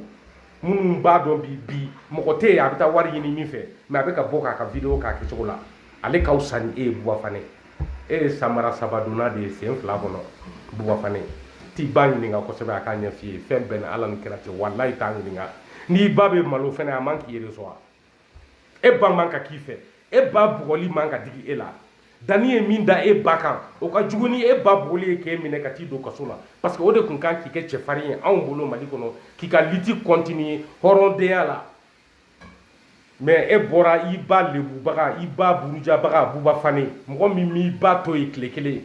minnu b'a dɔn bi bi mɔgɔ tɛ yen a bɛ taa wari ɲini min fɛ mɛ a bɛ ka bɔ k'a ka video k'a kɛcogo la ale ka wusa ni e ye buba fane e ye samara saba donna de ye sen fila kɔnɔ buba fane t'i ba ɲininka kosɛbɛ a k'a ɲɛf'i ye fɛn bɛɛ na ala ni kira cɛ walayi t'a ɲininka n'i ba bɛ malo fɛnɛ a man k'i yɛrɛ sɔn wa e ba man ka k'i fɛ e ba bugɔli man ka digi e la dani ye min da e ba kan o ka jugu ni e ba bugɔli ye k'e minɛ ka t'i don kaso la parce que o de kun kan k'i kɛ cɛfarin ye anw bolo mali kɔnɔ k'i ka liti kɔntiniye hɔrɔndenya la mais e bɔra i ba lebubaga i ba burujabaga buba fane mɔgɔ min m'i ba to ye tile kelen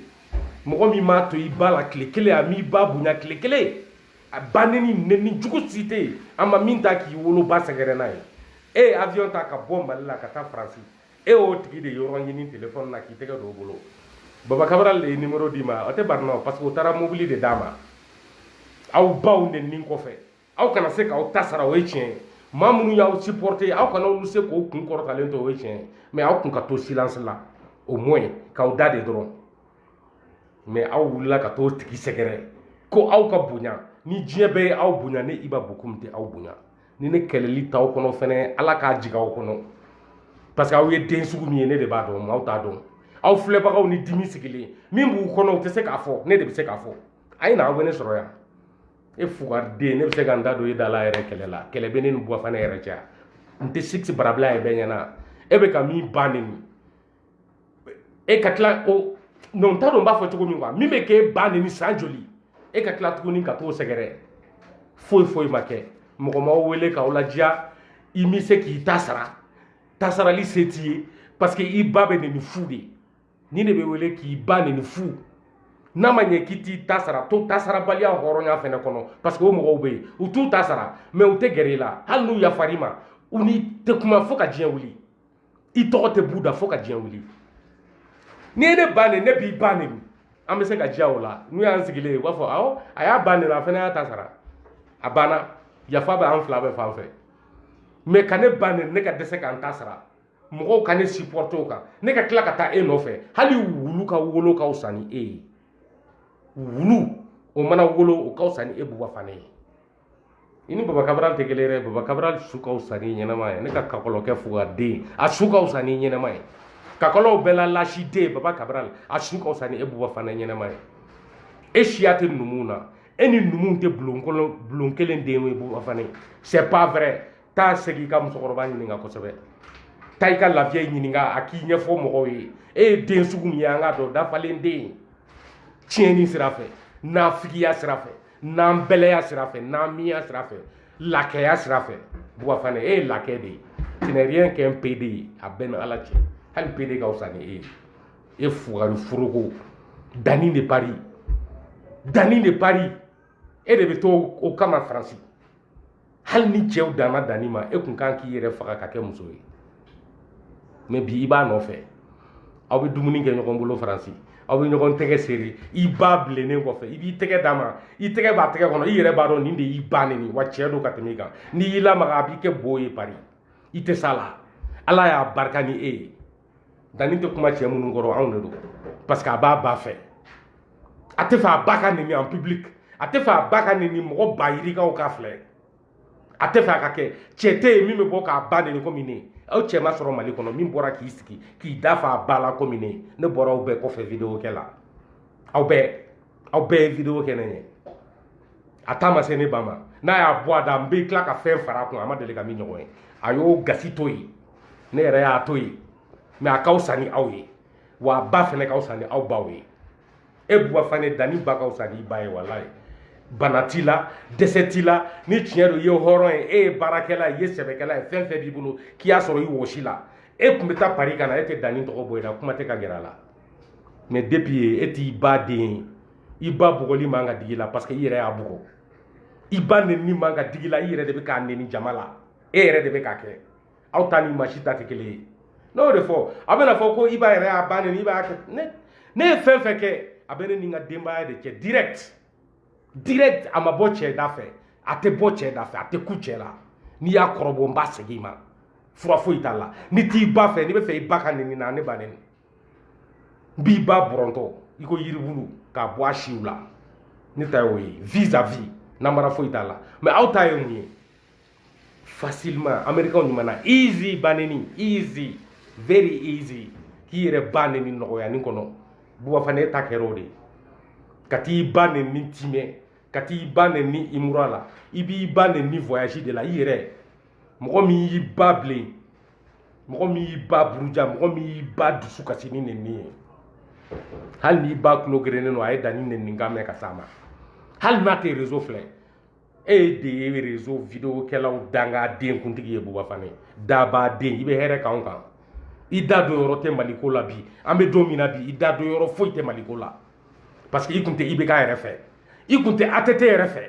mɔgɔ min m'a to i ba la tile kelen a m'i ba bonya tile kelen a ba neni neni jugu si tɛ yen a ma min ta k'i woloba sɛgɛrɛ n'a ye e ye avion ta ka bɔ mali la ka taa faransi e y'o tigi de yɔrɔ ɲini telefɔni na k'i tɛgɛ don o bolo baba kabaral de ye nimero d'i ma o tɛ barina o parce que o taara mobili de d'a ma aw baw neni kɔfɛ aw kana se k'aw ta sara o ye tiɲɛ ye maa minnu y'aw supporté aw kana olu se k'o kun kɔrɔtalen to o ye tiɲɛ ye mais aw kun ka to silence la au moins k'aw da de dɔrɔn mɛ aw wulila ka t'o tigi sɛgɛrɛ ko aw ka bonya ni diɲɛ bɛɛ ye aw bonya ne iba bokum tɛ aw bonya ni ne kɛlɛli t'aw kɔnɔ fɛnɛ ala k'a jigin aw kɔnɔ parce que aw ye den sugu min ye ne de b'a dɔn maaw t'a dɔn aw filɛbagaw ni dimi sigilen min b'u kɔnɔ u tɛ se k'a fɔ ne de bɛ se k'a fɔ a ye na aw bɛ ne sɔrɔ yan e fugariden ne bɛ se ka n da don e da la yɛrɛ kɛlɛ la kɛlɛ bɛ ne ni buba fane yɛrɛ cɛ n tɛ sigi barabila yɛrɛ bɛɛ ɲɛna e bɛ ka min ban ne ni e ka tila o mɛ n t'a dɔn n b'a fɔ cogo min quoi min bɛ k'e ba neni san joli e ka tila tuguni ka t'o sɛgɛrɛ foyi foyi ma kɛ mɔgɔ m'aw wele k'aw ladiya i m'i se k'i ta sara ta sarali se t'i ye parce que i ba bɛ neni fu de ni de bɛ wele k'i ba neni fu n'a ma ɲɛ k'i t'i ta sara to ta sarabaliya hɔrɔnya fɛnɛ kɔnɔ parce que o mɔgɔw bɛ yen u t'u ta sara mɛ u tɛ gɛrɛ i la hali n'u yafar'i ma u n'i tɛ kuma fo ka diɲɛ wuli i tɔgɔ tɛ b'u da fo ka diɲɛ wuli n'i ye ne ba neni ne b'i ba neni an bɛ se ka diya o la n'u y'an sigilen ye u b'a fɔ awɔ a y'a ba neni a fana y'a ta sara a banna yafa bɛ an fila bɛɛ fan fɛ mɛ ka ne ba neni ne ka dɛsɛ ka n ta sara mɔgɔw ka ne supporte o kan ne ka tila ka taa e nɔfɛ hali wulu ka wolo ka fisa ni e ye wulu o mana wolo o ka fisa ni e buba fane ye i ni baba kabral tɛ kelen dɛ baba kabral su ka fisa ni ɲɛnama ye ne ka kakɔlɔ kɛ fo ka den a su ka fisa ni ɲɛnama ye kakɔlɔw bɛɛ la lasi den baba kabral a su ka fisa ni e buba fane ɲɛnama ye e siya tɛ numuw na e ni numuw tɛ bulon kelen den ye buba fane c'est pas vrai taa segin i ka musokɔrɔba ɲininka kosɛbɛ taa i ka la vieille ɲininka a k'i ɲɛfɔ mɔgɔw ye e ye den sugu min ye an k'a dɔn dafalen den tiɲɛni sira fɛ nafigiya sira fɛ nanbɛlɛya sira fɛ n'an miya sira fɛ lakɛya sira fɛ buba fane e ye lakɛ de ye tu n'es rien qu'un pédé ye a bɛ n ni ala cɛ hali pédé ka fisa ni e ye e fugari foroko dani de paris dani de paris e de bɛ to o kama faransi hali ni cɛw danna dani ma e kun kan k'i yɛrɛ faga ka kɛ muso ye mɛ bi i b'a nɔfɛ aw bɛ dumuni kɛ ɲɔgɔn bolo faransi aw bɛ ɲɔgɔn tɛgɛ serrer i ba bilennen kɔfɛ i b'i tɛgɛ d'a ma i tɛgɛ b'a tɛgɛ kɔnɔ i yɛrɛ b'a dɔn nin de y'i ba neni wa cɛ don ka tɛmɛ i kan n'i y'i lamaga a b'i kɛ bo ye pari i tɛ s'a la ala y'a barika ni e ye dani tɛ kuma cɛ minnu kɔrɔ anw de don parce que a b'a ba fɛ a t'a fɛ a ba ka neni en public a t'a fɛ a ba ka neni mɔgɔ ba yirika k'a filɛ a t'a fɛ a ka kɛ cɛ tɛ yen min bɛ bɔ k'a ba neni komi ne aw cɛ ma sɔrɔ mali kɔnɔ min bɔra k'i sigi k'i da fa a ba la komi ne ne bɔra aw bɛɛ kɔfɛ video kɛ la aw bɛɛ aw bɛɛ ye video kɛ ne ɲɛ a da ma se ne ba ma n'a y'a bɔ a da n bɛ tila ka fɛn fara a kun a ma deli ka min ɲɔgɔn ye a y'o gasi to yen ne yɛrɛ y'a to yen mɛ a ka fisa ni aw ye wa a ba fɛnɛ ka fisa ni aw baw ye e buba fane dani ba ka fisa ni i ba ye walayi bana t'i la dɛsɛ t'i la ni tiɲɛ don i ye hɔrɔn ye e ye baarakɛla ye i ye sɛbɛkɛla ye fɛn fɛn b'i bolo k'i y'a sɔrɔ i wɔsi la e tun bɛ taa pari ka na e tɛ dani tɔgɔ bɔ i la kuma tɛ ka gɛrɛ a la mɛ depuis e t'i ba den ye i ba bugɔli man ka digi i la parce que i yɛrɛ y'a bugɔ i ba nenini man ka digi i la i yɛrɛ de bɛ k'a neni jama la e yɛrɛ de bɛ k'a kɛ aw ta ni masi ta tɛ kelen ye ne y'o de fɔ a bɛna fɔ ko iba yɛrɛ ye ba neni ba kɛ ne ne ye fɛn fɛn kɛ a bɛ ne ni n ka denbaya de cɛ direct direct a ma bɔ cɛ da fɛ a tɛ bɔ cɛ da fɛ a tɛ kun cɛ la n'i y'a kɔrɔbɔ n b'a segin i ma fura foyi t'a la n'i t'i ba fɛ n'i b'a fɛ i ba ka neni na ne ba neni n b'i ba bɔrɔntɔ i ko yiribulu k'a bɔ a siw la ne ta y'o ye vis à vis namara foyi t'a la mɛ aw ta ye mun ye facilement américain kuma na easy ba neni easy very easy k'i yɛrɛ ba neni nɔgɔyani kɔnɔ buba fane e ta kɛra o de ye ka t'i ba neni timɛ ka t'i ba neni imura la i b'i ba neni voyage de la i yɛrɛ mɔgɔ min y'i ba bilen mɔgɔ min y'i ba buruja mɔgɔ min y'i ba dusu kasi ni neni ye hali n'i ba tulo gerennen don a ye dani neni kan mɛn ka s'a ma hali n'a tɛ rezo filɛ e de ye rezo video kɛlaw dangaden kuntigi ye buba fane daba den i bɛ hɛrɛ k'anw kan i da don yɔrɔ tɛ mali ko la bi an bɛ don min na bi i da don yɔrɔ foyi tɛ mali ko la parce que i kun tɛ ibk yɛrɛ fɛ i kun tɛ att yɛrɛ fɛ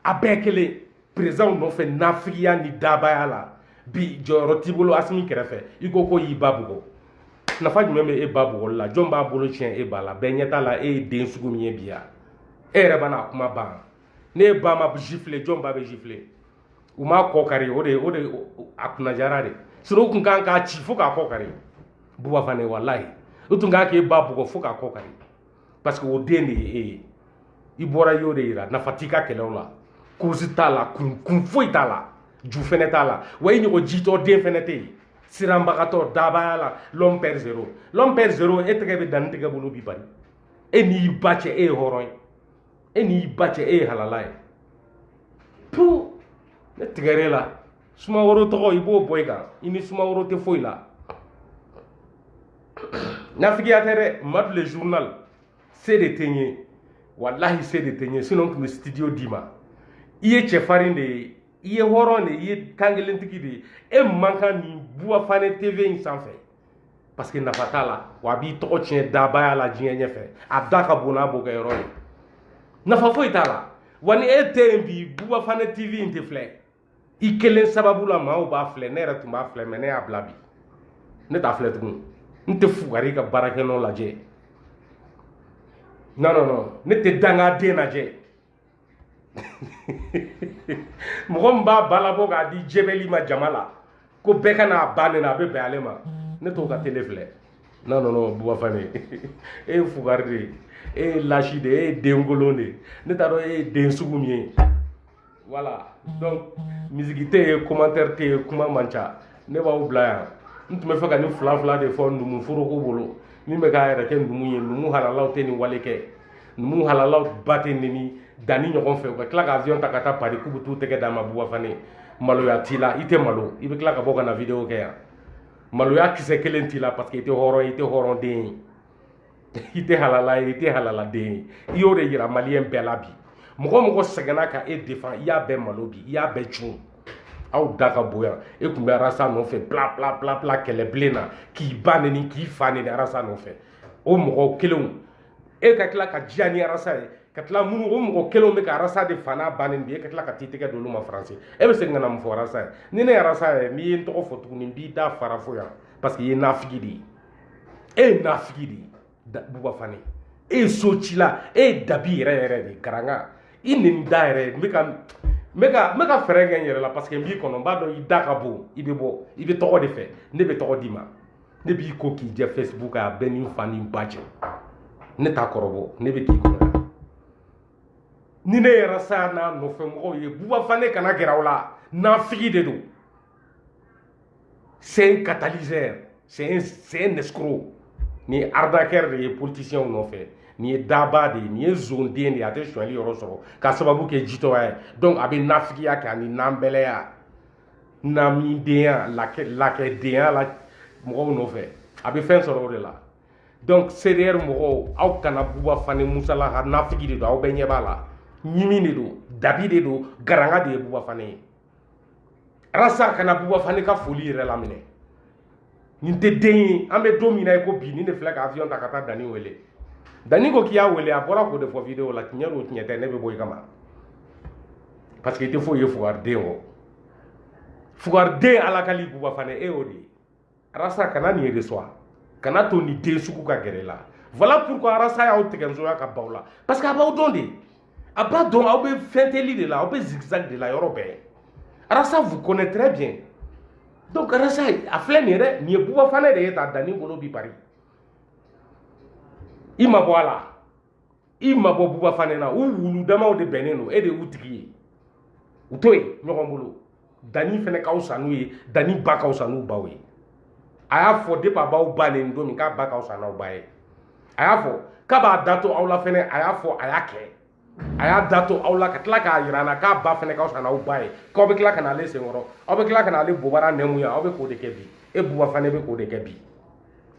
a bɛɛ kelen perezidanw nɔfɛ nafigiya ni dabaya la bi jɔyɔrɔ t'i bolo asimi kɛrɛfɛ i ko k'u y'i ba bugɔ nafa jumɛn bɛ e ba bugɔli la jɔn b'a bolo tiɲɛ e ba la bɛɛ ɲɛ t'a la e ye den sugu min ye bi ya e yɛrɛ b'a n'a kuma ban n'e ba ma gifler jɔn ba bɛ gifler u m'a kɔ kari o de o de a kunna diyara de sinɔn u tun kan k'a ci fo k'a kɔ kari buba fane walayi u tun kan k'e ba bugɔ fo k'a kɔ kari parce que o den de ye e ye i bɔra y'o de yira nafa t'i ka kɛlɛw la kurusi t'a la kun kun foyi t'a la ju fɛnɛ t'a la wa i ɲɔgɔn jitɔ den fɛnɛ tɛ yen siranbagatɔ dabaya la l'homme père zero l'homme père zero e tɛgɛ bɛ dani tɛgɛ bolo bi bari e n'i ba cɛ e ye hɔrɔn ye e n'i ba cɛ e ye halala ye tu ne tigɛr'e la sumaworo tɔgɔ i b'o bɔ i kan i ni sumaworo tɛ foyi la nafigiya tɛ dɛ madu le journal se de tɛ n ye walahi se de tɛ n ye sinon n tun bɛ studio d'i ma i ye cɛfarin de ye i ye hɔrɔn de ye i ye kankelentigi de ye e man kan nin buba fane tv in sanfɛ parce que nafa t'a la wa a b'i tɔgɔ tiɲɛ dabaya la diɲɛ ɲɛfɛ a da ka bon n'a bokɛyɔrɔ ye nafa foyi t'a la wa ni e tɛ yen bi buba fane tv in tɛ filɛ i kelen sababu la maaw b'a filɛ ne yɛrɛ tun b'a filɛ mais ne y'a bila bi ne t'a filɛ tugun n tɛ fugari ka baarakɛnɔ lajɛ non non non ne tɛ dangaden lajɛ mɔgɔ min b'a ba labɔ k'a di jɛbɛli ma jama la ko bɛɛ ka n'a ba neni a bɛ bɛn ale ma ne t'o ka tele filɛ non non non buba fane e ye fugari de ye e ye lâche de ye e ye denkolon de ye ne t'a dɔn e ye den sugu min ye voilà donc misiki tɛ yen commentaire tɛ yen kuma man ca ne b'aw bila yan n tun bɛ fɛ ka nin fila fila de fɔ numu foroko bolo min bɛ k'a yɛrɛ kɛ numu ye numu halalaw tɛ nin wale kɛ numu halalaw ba tɛ neni dani ɲɔgɔn fɛ u ka tila ka avion ta ka taa pari k'u bɛ t'u tɛgɛ d'a ma buba fane maloya t'i la i tɛ malo i bɛ tila ka bɔ ka na video kɛ yan maloya kisɛ kelen t'i la parce que i tɛ hɔrɔn ye i tɛ hɔrɔnden ye i tɛ halala ye i tɛ halaladen ye i y'o de yira maliyɛn bɛɛ la bi mɔgɔ mɔgɔ sɛgɛnna ka e defan i y'a bɛɛ malo bi i y'a bɛɛ cun aw da ka bon yan e tun bɛ arasa nɔfɛ pla pla pla pla kɛlɛbilen na k'i ba neni k'i fa neni arasa nɔfɛ o mɔgɔw kelenw e ka tila ka diya ni arasa ye ka tila minnu o mɔgɔ kelenw bɛ ka arasa de fa n'a ba neni de ye ka tila ka t'i tɛgɛ don olu ma faransi e bɛ segin ka na mun fɔ arasa ye ni ne arasa ye n'i ye n tɔgɔ fɔ tuguni n b'i da fara fo yan parce que i ye nafigi de ye e ye nafigi de ye buba fane e ye so cila e ye dabi yɛrɛ yɛrɛ de karanga i nin da yɛrɛ n bɛ ka n bɛ ka n bɛ ka fɛɛrɛ kɛ n yɛrɛ la parce que n b'i kɔnɔ n b'a dɔn i da ka bon i bɛ bɔ i bɛ tɔgɔ de fɛ ne bɛ tɔgɔ d'i ma ne b'i ko k'i jɛ facebook a bɛɛ ni fa ni ba cɛ ne ta kɔrɔbɔ ne bɛ k'i kɔrɔ ni ne ye rasa n'a nɔfɛ mɔgɔw ye buba fane kana gɛrɛ aw la nafigi de don c'est un catalyseur c'est un c'est un escroc nin ye arnaqueur de ye politicien nɔfɛ nin ye daba de ye nin ye zonden de ye a tɛ sonyali yɔrɔ sɔrɔ k'a sababu kɛ jitɔya ye donc a bɛ nafigiya kɛ ani nanbɛlɛya namidenya lakɛ lakɛdenya la mɔgɔw nɔfɛ a bɛ fɛn sɔrɔ o de la donc CDR mɔgɔw aw kana buba fane musalaha nafigi de don aw bɛɛ ɲɛ b'a la ɲimi de don dabi de don garanga de ye buba fane ye rasa kana buba fane ka foli yɛrɛ laminɛ nin tɛ den ye an bɛ don min na i ko bi nin de filɛ ka avion ta ka taa dani wele dani ko k'i y'a wele a bɔra k'o de fɔ video la tiɲɛ don tiɲɛ tɛ ne bɛ bɔ i kama parce que i tɛ foyi ye fugariden kɔ fugariden halali buba fane e y'o de ye arasa kana nin reçoit kan'a to nin den sugu ka gɛrɛ i la voilà pourquoi arasa y'aw tigɛ nsoya ka baw la parce que a b'aw dɔn de a b'a dɔn aw bɛ fɛnteli de la aw bɛ zigzag de la yɔrɔ bɛɛ arasa vous connaît très bien donc arasa a filɛ nin ye dɛ nin ye buba fanɛ de ye ta dani bolo bi bari i ma bɔ a la i ma bɔ buba fanɛ na u wulu damaw de bɛnnen don e de y'u tigi ye u to yen ɲɔgɔn bolo dani fana ka fisa n'u ye dani ba ka fisa n'u baw ye a y'a fɔ depi a b'aw ba neni don min k'a ba ka fisa n'aw ba ye a y'a fɔ k'a b'a da to aw la fɛnɛ a y'a fɔ a y'a kɛ a y'a da to aw la ka tila k'a yira na k'a ba fɛnɛ ka fisa n'aw ba ye k'aw bɛ tila ka n'ale senkɔrɔ aw bɛ tila ka n'ale bobara nɛmu ye aw bɛ k'o de kɛ bi e buba fana bɛ k'o de kɛ bi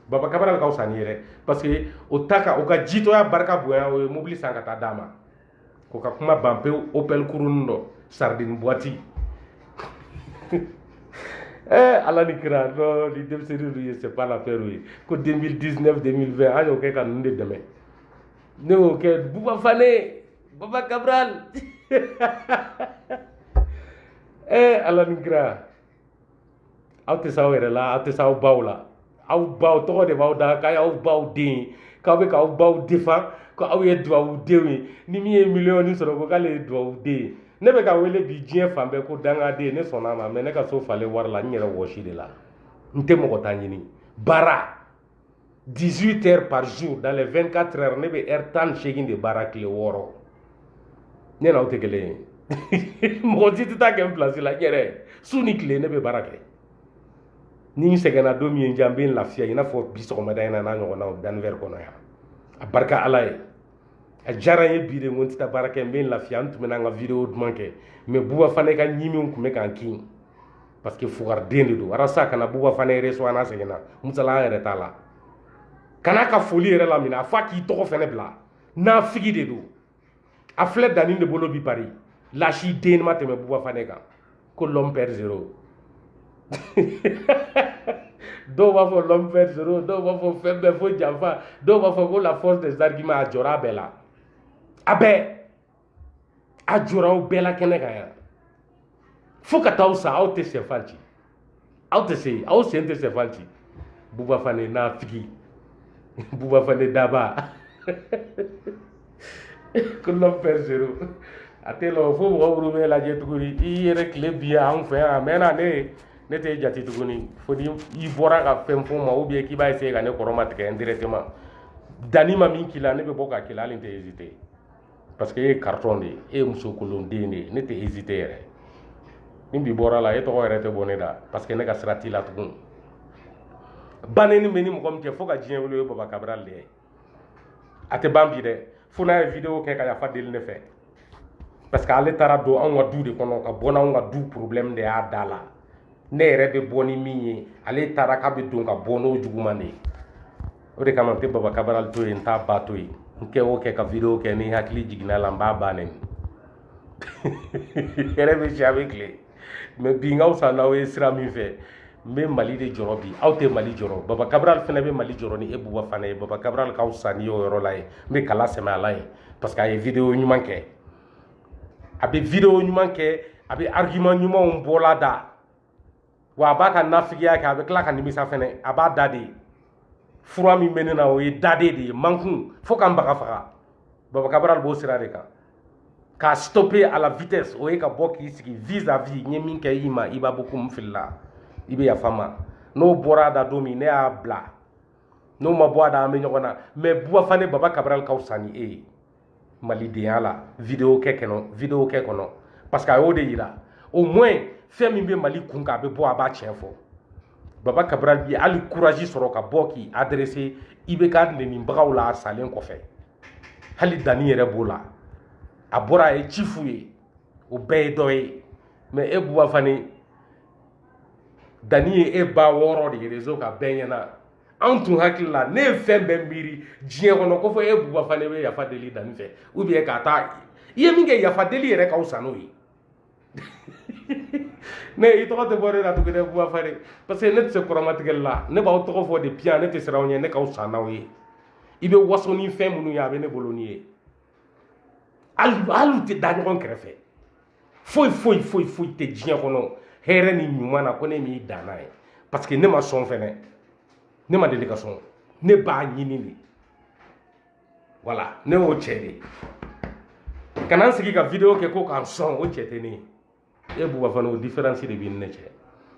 baba kabara bɛ ka fisa n'i ye dɛ parce que o ta ka o ka jitɔya barika bonya o ye mobili san ka taa d'a ma ko ka kuma ban pewu opel kurun don sardine boiti eh, ala ni kira no ni denmisɛnnin ninnu ye c'est pas l'affaire ye ko 2019 2020 an y'o kɛ ka ninnu de dɛmɛ ne y'o kɛ buba fane baba cabral eh, ala ni kira aw tɛ s'aw yɛrɛ la aw tɛ s'aw baw la aw baw tɔgɔ de b'aw da k'aw y'aw baw den ye k'aw bɛ k'aw baw défendre ko aw ye duwawudenw ye ni min ye miliyɔn sɔrɔ ko k'ale ye duwawuden ye ne bɛ ka wele bi diɲɛ fan bɛɛ ko dangaden ne sɔnna a ma mais ne ka so falen wari la n yɛrɛ wɔsi de la n tɛ mɔgɔ ta ɲini baara 18 heures par jour dans les 24 heures ne bɛ heure tan ni seegin de baara tile wɔɔrɔ ne n'aw tɛ kelen ye mɔgɔ si tɛ taa a kɛ n pilasi la n yɛrɛ su ni tile ne bɛ baara kɛ ni n sɛgɛnna don min n jan n bɛ n lafiya i n'a fɔ bi sɔgɔmada in na n'a ɲɔgɔnnaw danifɛri kɔnɔ yan a barika ala ye a diyara n ye bi de ko n tɛ taa baara kɛ n bɛ n lafiya n tun bɛ n ka video duman kɛ mais buba fane ka ɲimiw tun bɛ ka n kin parce que fugariden de don arasa kana buba fane yɛrɛ so ana seginna musala an yɛrɛ t'a la kan'a ka foli yɛrɛ laminɛ a fɔ a k'i tɔgɔ fɛnɛ bila nafigi de don a filɛ dani de bolo bi pari lasi den ma tɛmɛ buba fane kan ko l'homme peur zero dɔw b'a fɔ l'homme peur zero dɔw b'a fɔ fɛn bɛɛ fo janfa dɔw b'a fɔ ko la force des arguments a jɔra a bɛɛ la a bɛɛ a jɔra aw bɛɛ la kɛnɛ kan yan fo ka taa aw sa aw tɛ sɛfan ci aw tɛ se aw sen tɛ sɛfan ci buba fane nafigi buba fane daba ko l'homme peur zero a tɛ lɔ fo mɔgɔ minnu b'e lajɛ tuguni i yɛrɛ tile binna an fɛ yan a mɛɛnna ne ne t'e jate tuguni fo ni i bɔra ka fɛn fɔ n ma ou bien k'i b'a essayer ka ne kɔrɔmatigɛ indirectement dani ma min k'i la ne bɛ bɔ k'a k'i la hali n tɛ hésiter parce que e ye karitɔn de ye e ye muso kolon den de ye ne tɛ hésiter yɛrɛ ni bi bɔr'a la e tɔgɔ yɛrɛ tɛ bɔ ne da parce que ne ka sira t'i la tugun banni bɛ n ni mɔgɔ min cɛ fo ka diɲɛ wuli o ye baba cabral ye a tɛ ban bi dɛ fo n'a ye video kɛ ka yafa deli ne fɛ parce que ale taara don anw ka du de kɔnɔ ka bɔ n'anw ka du problème de y'a da la ne yɛrɛ bɛ bɔ ni min ye ale taara k'a bɛ don ka bɔ n'o juguman de ye o de kama n tɛ baba cabral to yen n t'a ba to yen n kɛ o kɛ ka video kɛ ni n hakili jiginna a la n b'a ba neni yɛrɛ bɛ si a bɛ tile mais bi n ka fisa n'aw ye sira min fɛ n bɛ mali de jɔrɔ bi aw tɛ mali jɔrɔ baba cabral fana bɛ mali jɔrɔ ni e buba fane ye baba cabral k'aw sa ni y'o yɔrɔ la ye n bɛ kala sɛmɛ a la yen parce que a ye video ɲuman kɛ a bɛ video ɲuman kɛ a bɛ argument ɲumanw bɔla da wa a b'a ka nafigiya kɛ a bɛ tila ka nimisa fɛnɛ a b'a dade fura min bɛ ne na o ye dade de ye mankun fo ka n baga faga baba kabaral b'o sira de kan k'a stoppe à la vitesse o ye ka bɔ k'i sigi vis à vis n ye min kɛ i ma i b'a fɔ ko n filila i bɛ yafa n ma n'o bɔra a da don min ne y'a bila n'o ma bɔ a da an bɛ ɲɔgɔn na mɛ buba fane baba kabaral ka fisa ni e ye malidenya la video kɛ kɔnɔ parce que a y'o de yira au moins fɛn min bɛ mali kun kan a bɛ bɔ a b'a tiɲɛ fɔ baba kabaral ye hali courage sɔrɔ ka bɔ k'i adresse ibk nenibagaw la a salen kɔfɛ hali danni yɛrɛ b'o la a bɔra a ye tiɲɛ f'u ye o bɛɛ ye dɔ ye mɛ e buba fane danni ye e ba wɔrɔ de rezo kan bɛɛ ɲɛna anw tun hakili la ne ye fɛn bɛɛ miiri diɲɛ kɔnɔ ko fo e buba fane bɛ yafa deli danni fɛ ou bien ka taa i ye min kɛ yafa deli yɛrɛ ka fisa n'o ye ne i tɔgɔ tɛ bɔ ne la tuguni dɛ buba fane parce que ne tɛ se kɔrɔmatigɛli la ne b'aw tɔgɔ fɔ de piyan ne tɛ siran aw ɲɛ ne ka fisa n'aw ye i bɛ waso ni fɛn minnu ye a bɛ ne bolo ni ye hali u tɛ da ɲɔgɔn kɛrɛfɛ foyi foyi foyi foyi tɛ diɲɛ kɔnɔ hɛrɛ ni ɲuman na ko ne m'i dan n'a ye parce que ne ma sɔn fɛnɛ ne ma deli ka sɔn ne b'a ɲini de wala ne y'o cɛ de ka na n sigi ka video kɛ ko k'an sɔn o cɛ tɛ ne ye e buba fane o diferansi de b'i ni ne cɛ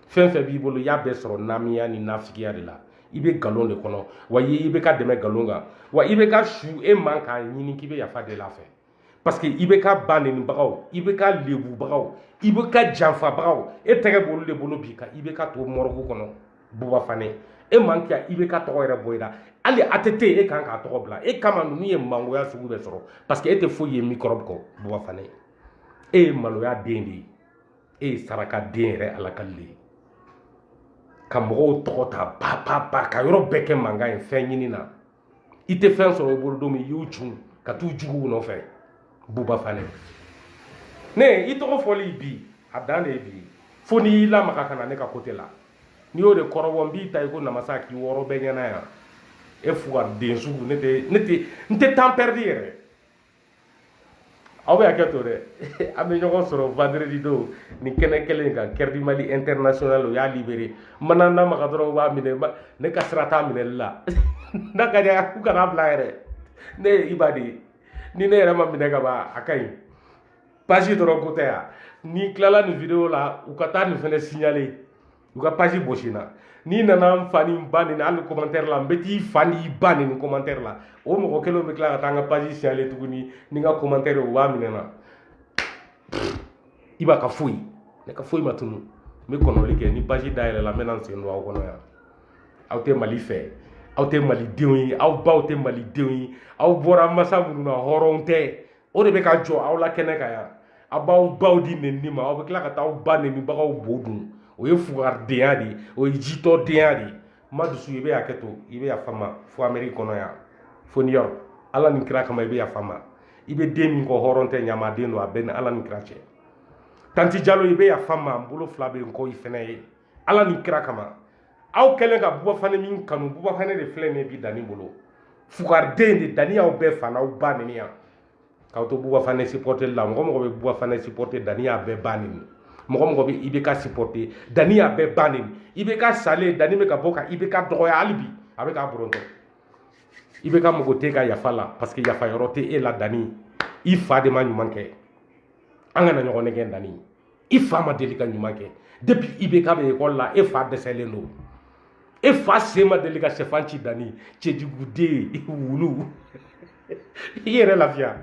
fɛn fɛn b'i bolo i y'a bɛɛ sɔrɔ namiya ni nafigiya de la i bɛ nkalon de kɔnɔ wa ibk dɛmɛ nkalon kan wa ibk su e man k'a ɲini k'i bɛ yafa deli a fɛ parce que ibk ba nenibagaw ibk lebubagaw ibk janfabagaw e tɛgɛ b'olu de bolo bi ka ibk to morgue kɔnɔ buba fane e man kan ka ibk tɔgɔ yɛrɛ bɔ i la hali a tɛ te e kan k'a tɔgɔ bila e kama ninnu ye mangoya sugu bɛɛ sɔrɔ parce que e tɛ foyi ye mikɔrɔbu kɔ buba fane e ye maloya den de ye e ye saraka den yɛrɛ ala ka le ka mɔgɔw tɔgɔ ta ba ba ba ka yɔrɔ bɛɛ kɛ mankan ye fɛn ɲini na i tɛ fɛn sɔrɔ o bolo don min i y'u cun ka t'u juguw nɔfɛ buba fane ne i tɔgɔ fɔli bi a dan de ye bi fo n'i y'i lamaga ka na ne ka kote la n'i y'o de kɔrɔbɔ n b'i ta i ko namasa k'i wɔrɔ bɛɛ ɲɛna yan e fugari den sugu ne tɛ ne tɛ n tɛ tan pɛridi yɛrɛ aw bɛ hakɛ to dɛ an bɛ ɲɔgɔn sɔrɔ vendredi don nin kɛnɛ kelen kan kɛrɛdi mali international o y'a libere mana n'a maga dɔrɔn b'a minɛ ne ka sira t'a minɛli la n'a ka di u kana bila yɛrɛ ne ye iba de ye ni ne yɛrɛ ma minɛ ka ban a ka ɲi pasi dɔrɔn ko tɛ yan n'i tilala nin video la u ka taa nin fɛnɛ signale u ka page bosi n na n'i nana n fa ni n ba nɛni hali commentaire la n bɛ t'i fa n'i ba nɛni commentaire la o mɔgɔ kelen bɛ tila ka taa n ka page signaler tuguni ni n ka commentaire u b'a minɛ n na i b'a ka foyi ne ka foyi ma tunu n bɛ kɔnɔni kɛ ni page dayɛlɛla n bɛ na n sen don aw kɔnɔ yan aw tɛ mali fɛ aw tɛ malidenw ye aw baw tɛ malidenw ye aw bɔra masa minnu na hɔrɔnw tɛ o de bɛ ka jɔ aw la kɛnɛ kan yan a b'aw baw di nɛni ma aw bɛ tila ka taa aw ba nɛnibagaw bo dun o ye fugaridenya de ye o ye jitɔdenya de ye madusu i bɛ hakɛ to i bɛ yafa n ma fo ameriki kɔnɔ yan fo ni yɔrɔ ala ni kira kama i bɛ yafa n ma i bɛ den min kɔ hɔrɔn tɛ ɲamaden don a b'i ni ala ni kira cɛ tanti jalo i bɛ yafa n ma n bolo fila bɛ n kɔ i fɛnɛ ye ala ni kira kama aw kɛlen ka bubafane min kanu bubafane de filɛ nin bi danni bolo fugariden de danni y'aw bɛɛ fa n'aw ba nɛni yan k'aw to bubafane supporter la mɔgɔ o mɔgɔ bɛ bubafane supporter danni y'a bɛɛ ba nɛni mɔgɔ o mɔgɔ bɛ ibk supporter danni y'a bɛɛ ba nɛni ibk salen danni bɛ ka bɔ ka ibk dɔgɔya hali bi a bɛ k'a bɔrɔtɔ ibk mago t'i ka yafa la parce que yafa yɔrɔ tɛ e la danni i fa de ma ɲuman kɛ an kana ɲɔgɔn nɛgɛn danni i fa ma deli ka ɲuman kɛ depuis ibk bɛ ekɔli la e fa dɛsɛlen don e fa sen ma deli ka sɛfan ci danni cɛjuguden wulu i yɛrɛ lafiya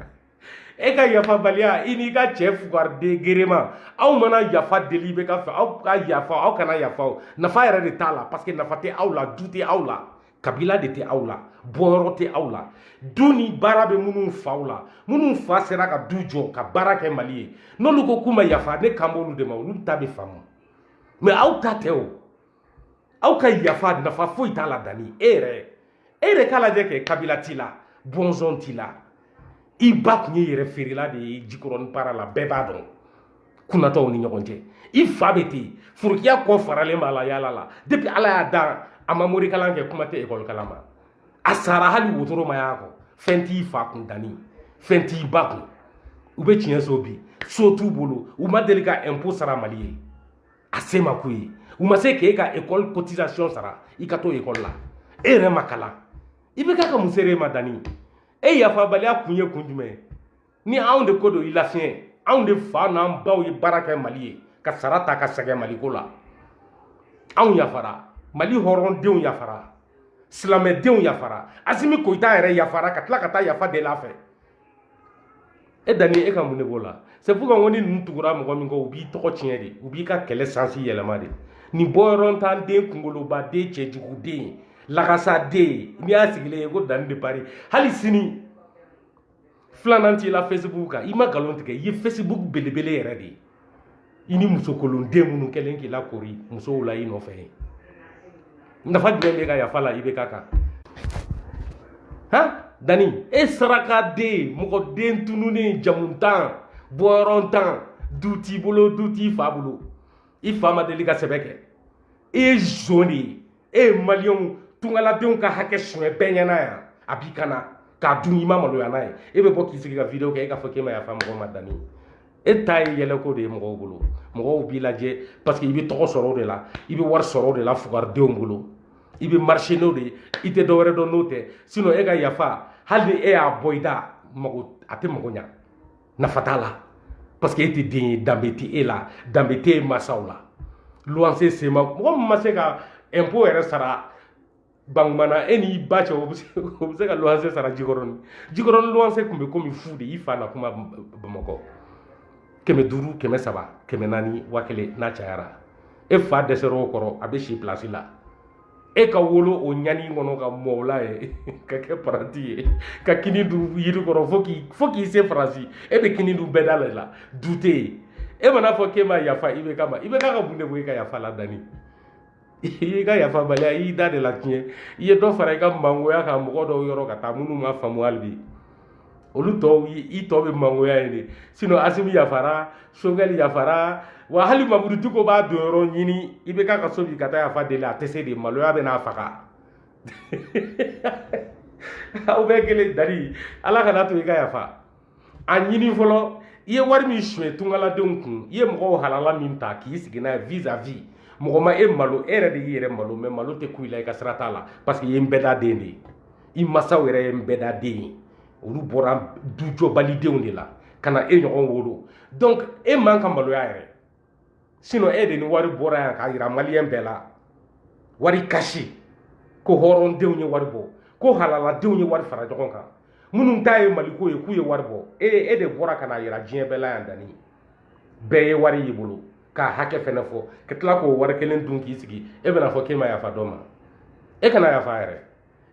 e ka yafabaliya i n'i ka cɛ fugariden gerema aw mana yafa deli ibk fɛ aw ka yafa aw kana yafa o nafa yɛrɛ de t'a la parce que nafa tɛ aw la du tɛ aw la kabila de tɛ aw la bɔyɔrɔ tɛ aw la du ni baara bɛ minnu faw la minnu fa sera ka du jɔ ka baara kɛ mali ye n'olu ko k'u ma yafa ne kan b'olu de ma olu ta bɛ faamu mais aw ta tɛ o aw ka yafa nafa foyi t'a la danni e yɛrɛ e yɛrɛ k'a lajɛ kɛ kabila t'i la bɔnsɔn t'i la i ba tun ye yɛrɛfeerela de ye jikɔrɔni para la bɛɛ b'a dɔn kunatɔw ni ɲɔgɔn cɛ i fa bɛ ten furukiya kɔ faralen b'a la yaala la depuis ala y'a dan a ma morikalan kɛ kuma tɛ ekɔli kalan ma a sara hali wotoro ma y'a kɔ fɛn t'i fa kun danni fɛn t'i ba kun u bɛ ciɲɛ so bi so t'u bolo u ma deli ka impôt sara mali ye a se ma k'u ye u ma se k'e ka ekɔli cotisation sara i ka to ekɔli la e yɛrɛ ma kalan ibk ka mun sera e ma danni e yafabaliya kun ye kun jumɛn ye ni anw de ko don i lafiɲɛ anw de fa n'an baw ye baara kɛ mali ye ka sara ta ka sɛgɛn maliko la anw yafara mali hɔrɔndenw yafara silamɛdenw yafara asimi koyita yɛrɛ yafara ka tila ka taa yafa deli a fɛ e danni e ka mun de b'o la sɛfu kan ko ni ninnu tugura mɔgɔ min kɔ u b'i tɔgɔ tiɲɛ de u b'i ka kɛlɛ sens yɛlɛma de nin bɔyɔrɔntan den kunkoloba den cɛjugu den lagasa den n'i y'a sigilen ye ko danni de pari hali sini filanan t'i la facebook kan i ma nkalon tigɛ i ye facebook belebele yɛrɛ de ye i ni musokolonden minnu kɛlen k'i lakori musow la i nɔfɛ ye nafa jumɛn b'i ka yafa la ibk kan han dani e sarakaden mɔgɔ den tununen jamuntan bɔyɔrɔntan du t'i bolo du t'i fa bolo i fa ma deli ka sɛbɛ kɛ i ye zon de ye e ye maliyɛnw tungaladenw ka hakɛ suɲɛ bɛɛ ɲɛna yan a b'i kana k'a dun i ma maloya n'a ye e bɛ bɔ k'i sigi ka video kɛ e k'a fɔ k'e ma yafa mɔgɔw ma dani e ta ye yɛlɛko de ye mɔgɔw bolo mɔgɔw b'i lajɛ parce que i bɛ tɔgɔ sɔrɔ o de la i bɛ wari sɔrɔ o de la fugaridenw bolo i bɛ marché n'o de ye i tɛ dɔ wɛrɛ dɔn n'o tɛ sinon e ka yafa hali ni e y'a bɔ i da mago a tɛ mago ɲa nafa t'a la parce que e tɛ den ye danbe tɛ e la danbe tɛ e mansaw la luwanse sema mɔgɔ min ma se ka impôt yɛrɛ sara bankumana e n'i ba cɛ o bɛ se ka luwanse sara jikɔrɔni jikɔrɔni luwanse tun bɛ komi fu de i fa na kuma bamakɔ kɛmɛ duuru kɛmɛ saba kɛmɛ naani waa kelen n'a cayara e fa dɛsɛr'o kɔrɔ a bɛ si pilasi la e ka wolo o ɲani kɔnɔ ka mɔ o la yen ka kɛ paranti ye ka kini dun yiri kɔrɔ fo k'i fo k'i se faransi e bɛ kini dun bɛɛ da de la du tɛ yen e man'a fɔ k'e ma yafa ibk ma ibk ka mun de bɛ i ka yafa la dani i y'i ka yafabaliya i y'i da de latiɲɛ i ye dɔ fara i ka mangoya kan mɔgɔ dɔw yɔrɔ ka taa minnu ma faamu hali bi olu tɔw i tɔ bɛ mangoya yen de sinɔn asimi yafara sogɛli yafara wa hali mamudu diko b'a don yɔrɔ ɲini ibk ka so bi ka taa yafa deli a tɛ se de maloya bɛ n'a faga aw bɛɛ kelen dari ala kan'a to i ka yafa ɲini fɔlɔ i ye wari min suɲɛ tungaladenw kun i ye mɔgɔw halala min ta k'i sigi n'a ye vis à vis mɔgɔ ma e malo e yɛrɛ de y'i yɛrɛ malo mɛ malo tɛ kun i la i ka sira t'a la parce que i ye nbɛda den de ye i masaw yɛrɛ ye nbɛda den ye olu bɔra dujɔbalidenw de la ka na e ɲɔgɔn wolo donc e man ka maloya yɛrɛ sinon e de ni wari bɔra yan k'a yira maliyɛn bɛɛ la wari kasi ko hɔrɔndenw ye wari bɔ ko halaladenw ye wari fara ɲɔgɔn kan minnu ta ye maliko ye k'u ye wari bɔ e e de bɔra ka n'a yira diɲɛ bɛɛ la yan dani bɛɛ ye wari y'i bolo k'a hakɛ fɛnɛ fɔ ka tila k'o wari kelen dun k'i sigi e bɛna fɔ k'e ma yafa dɔ ma e kana yafa yɛrɛ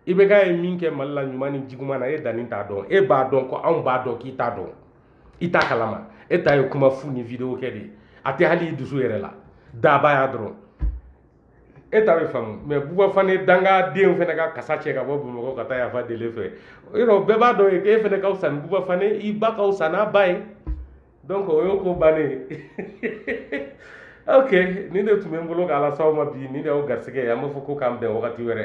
ibk ye min kɛ mali la ɲuman ni juguman na e dani t'a dɔn e b'a dɔn ko anw b'a dɔn k'i t'a dɔn i t'a kalama e ta ye kuma fu ni video kɛ de ye a tɛ hali i dusu yɛrɛ la dabaya dɔrɔn e ta bɛ faamu mɛ buba fane dangaden fana ka kasa cɛ ka bɔ bamakɔ ka taa yafa deli e fɛ yɔrɔ bɛɛ b'a dɔn e fana ka fisa ni buba fane i ba ka fisa n'a ba ye donc o y'o ko bannen ye ok nin de tun bɛ n bolo k'a lase aw ma bi nin de y'aw garisigɛ ye an b'a fɔ ko k'an bɛn wagati wɛrɛ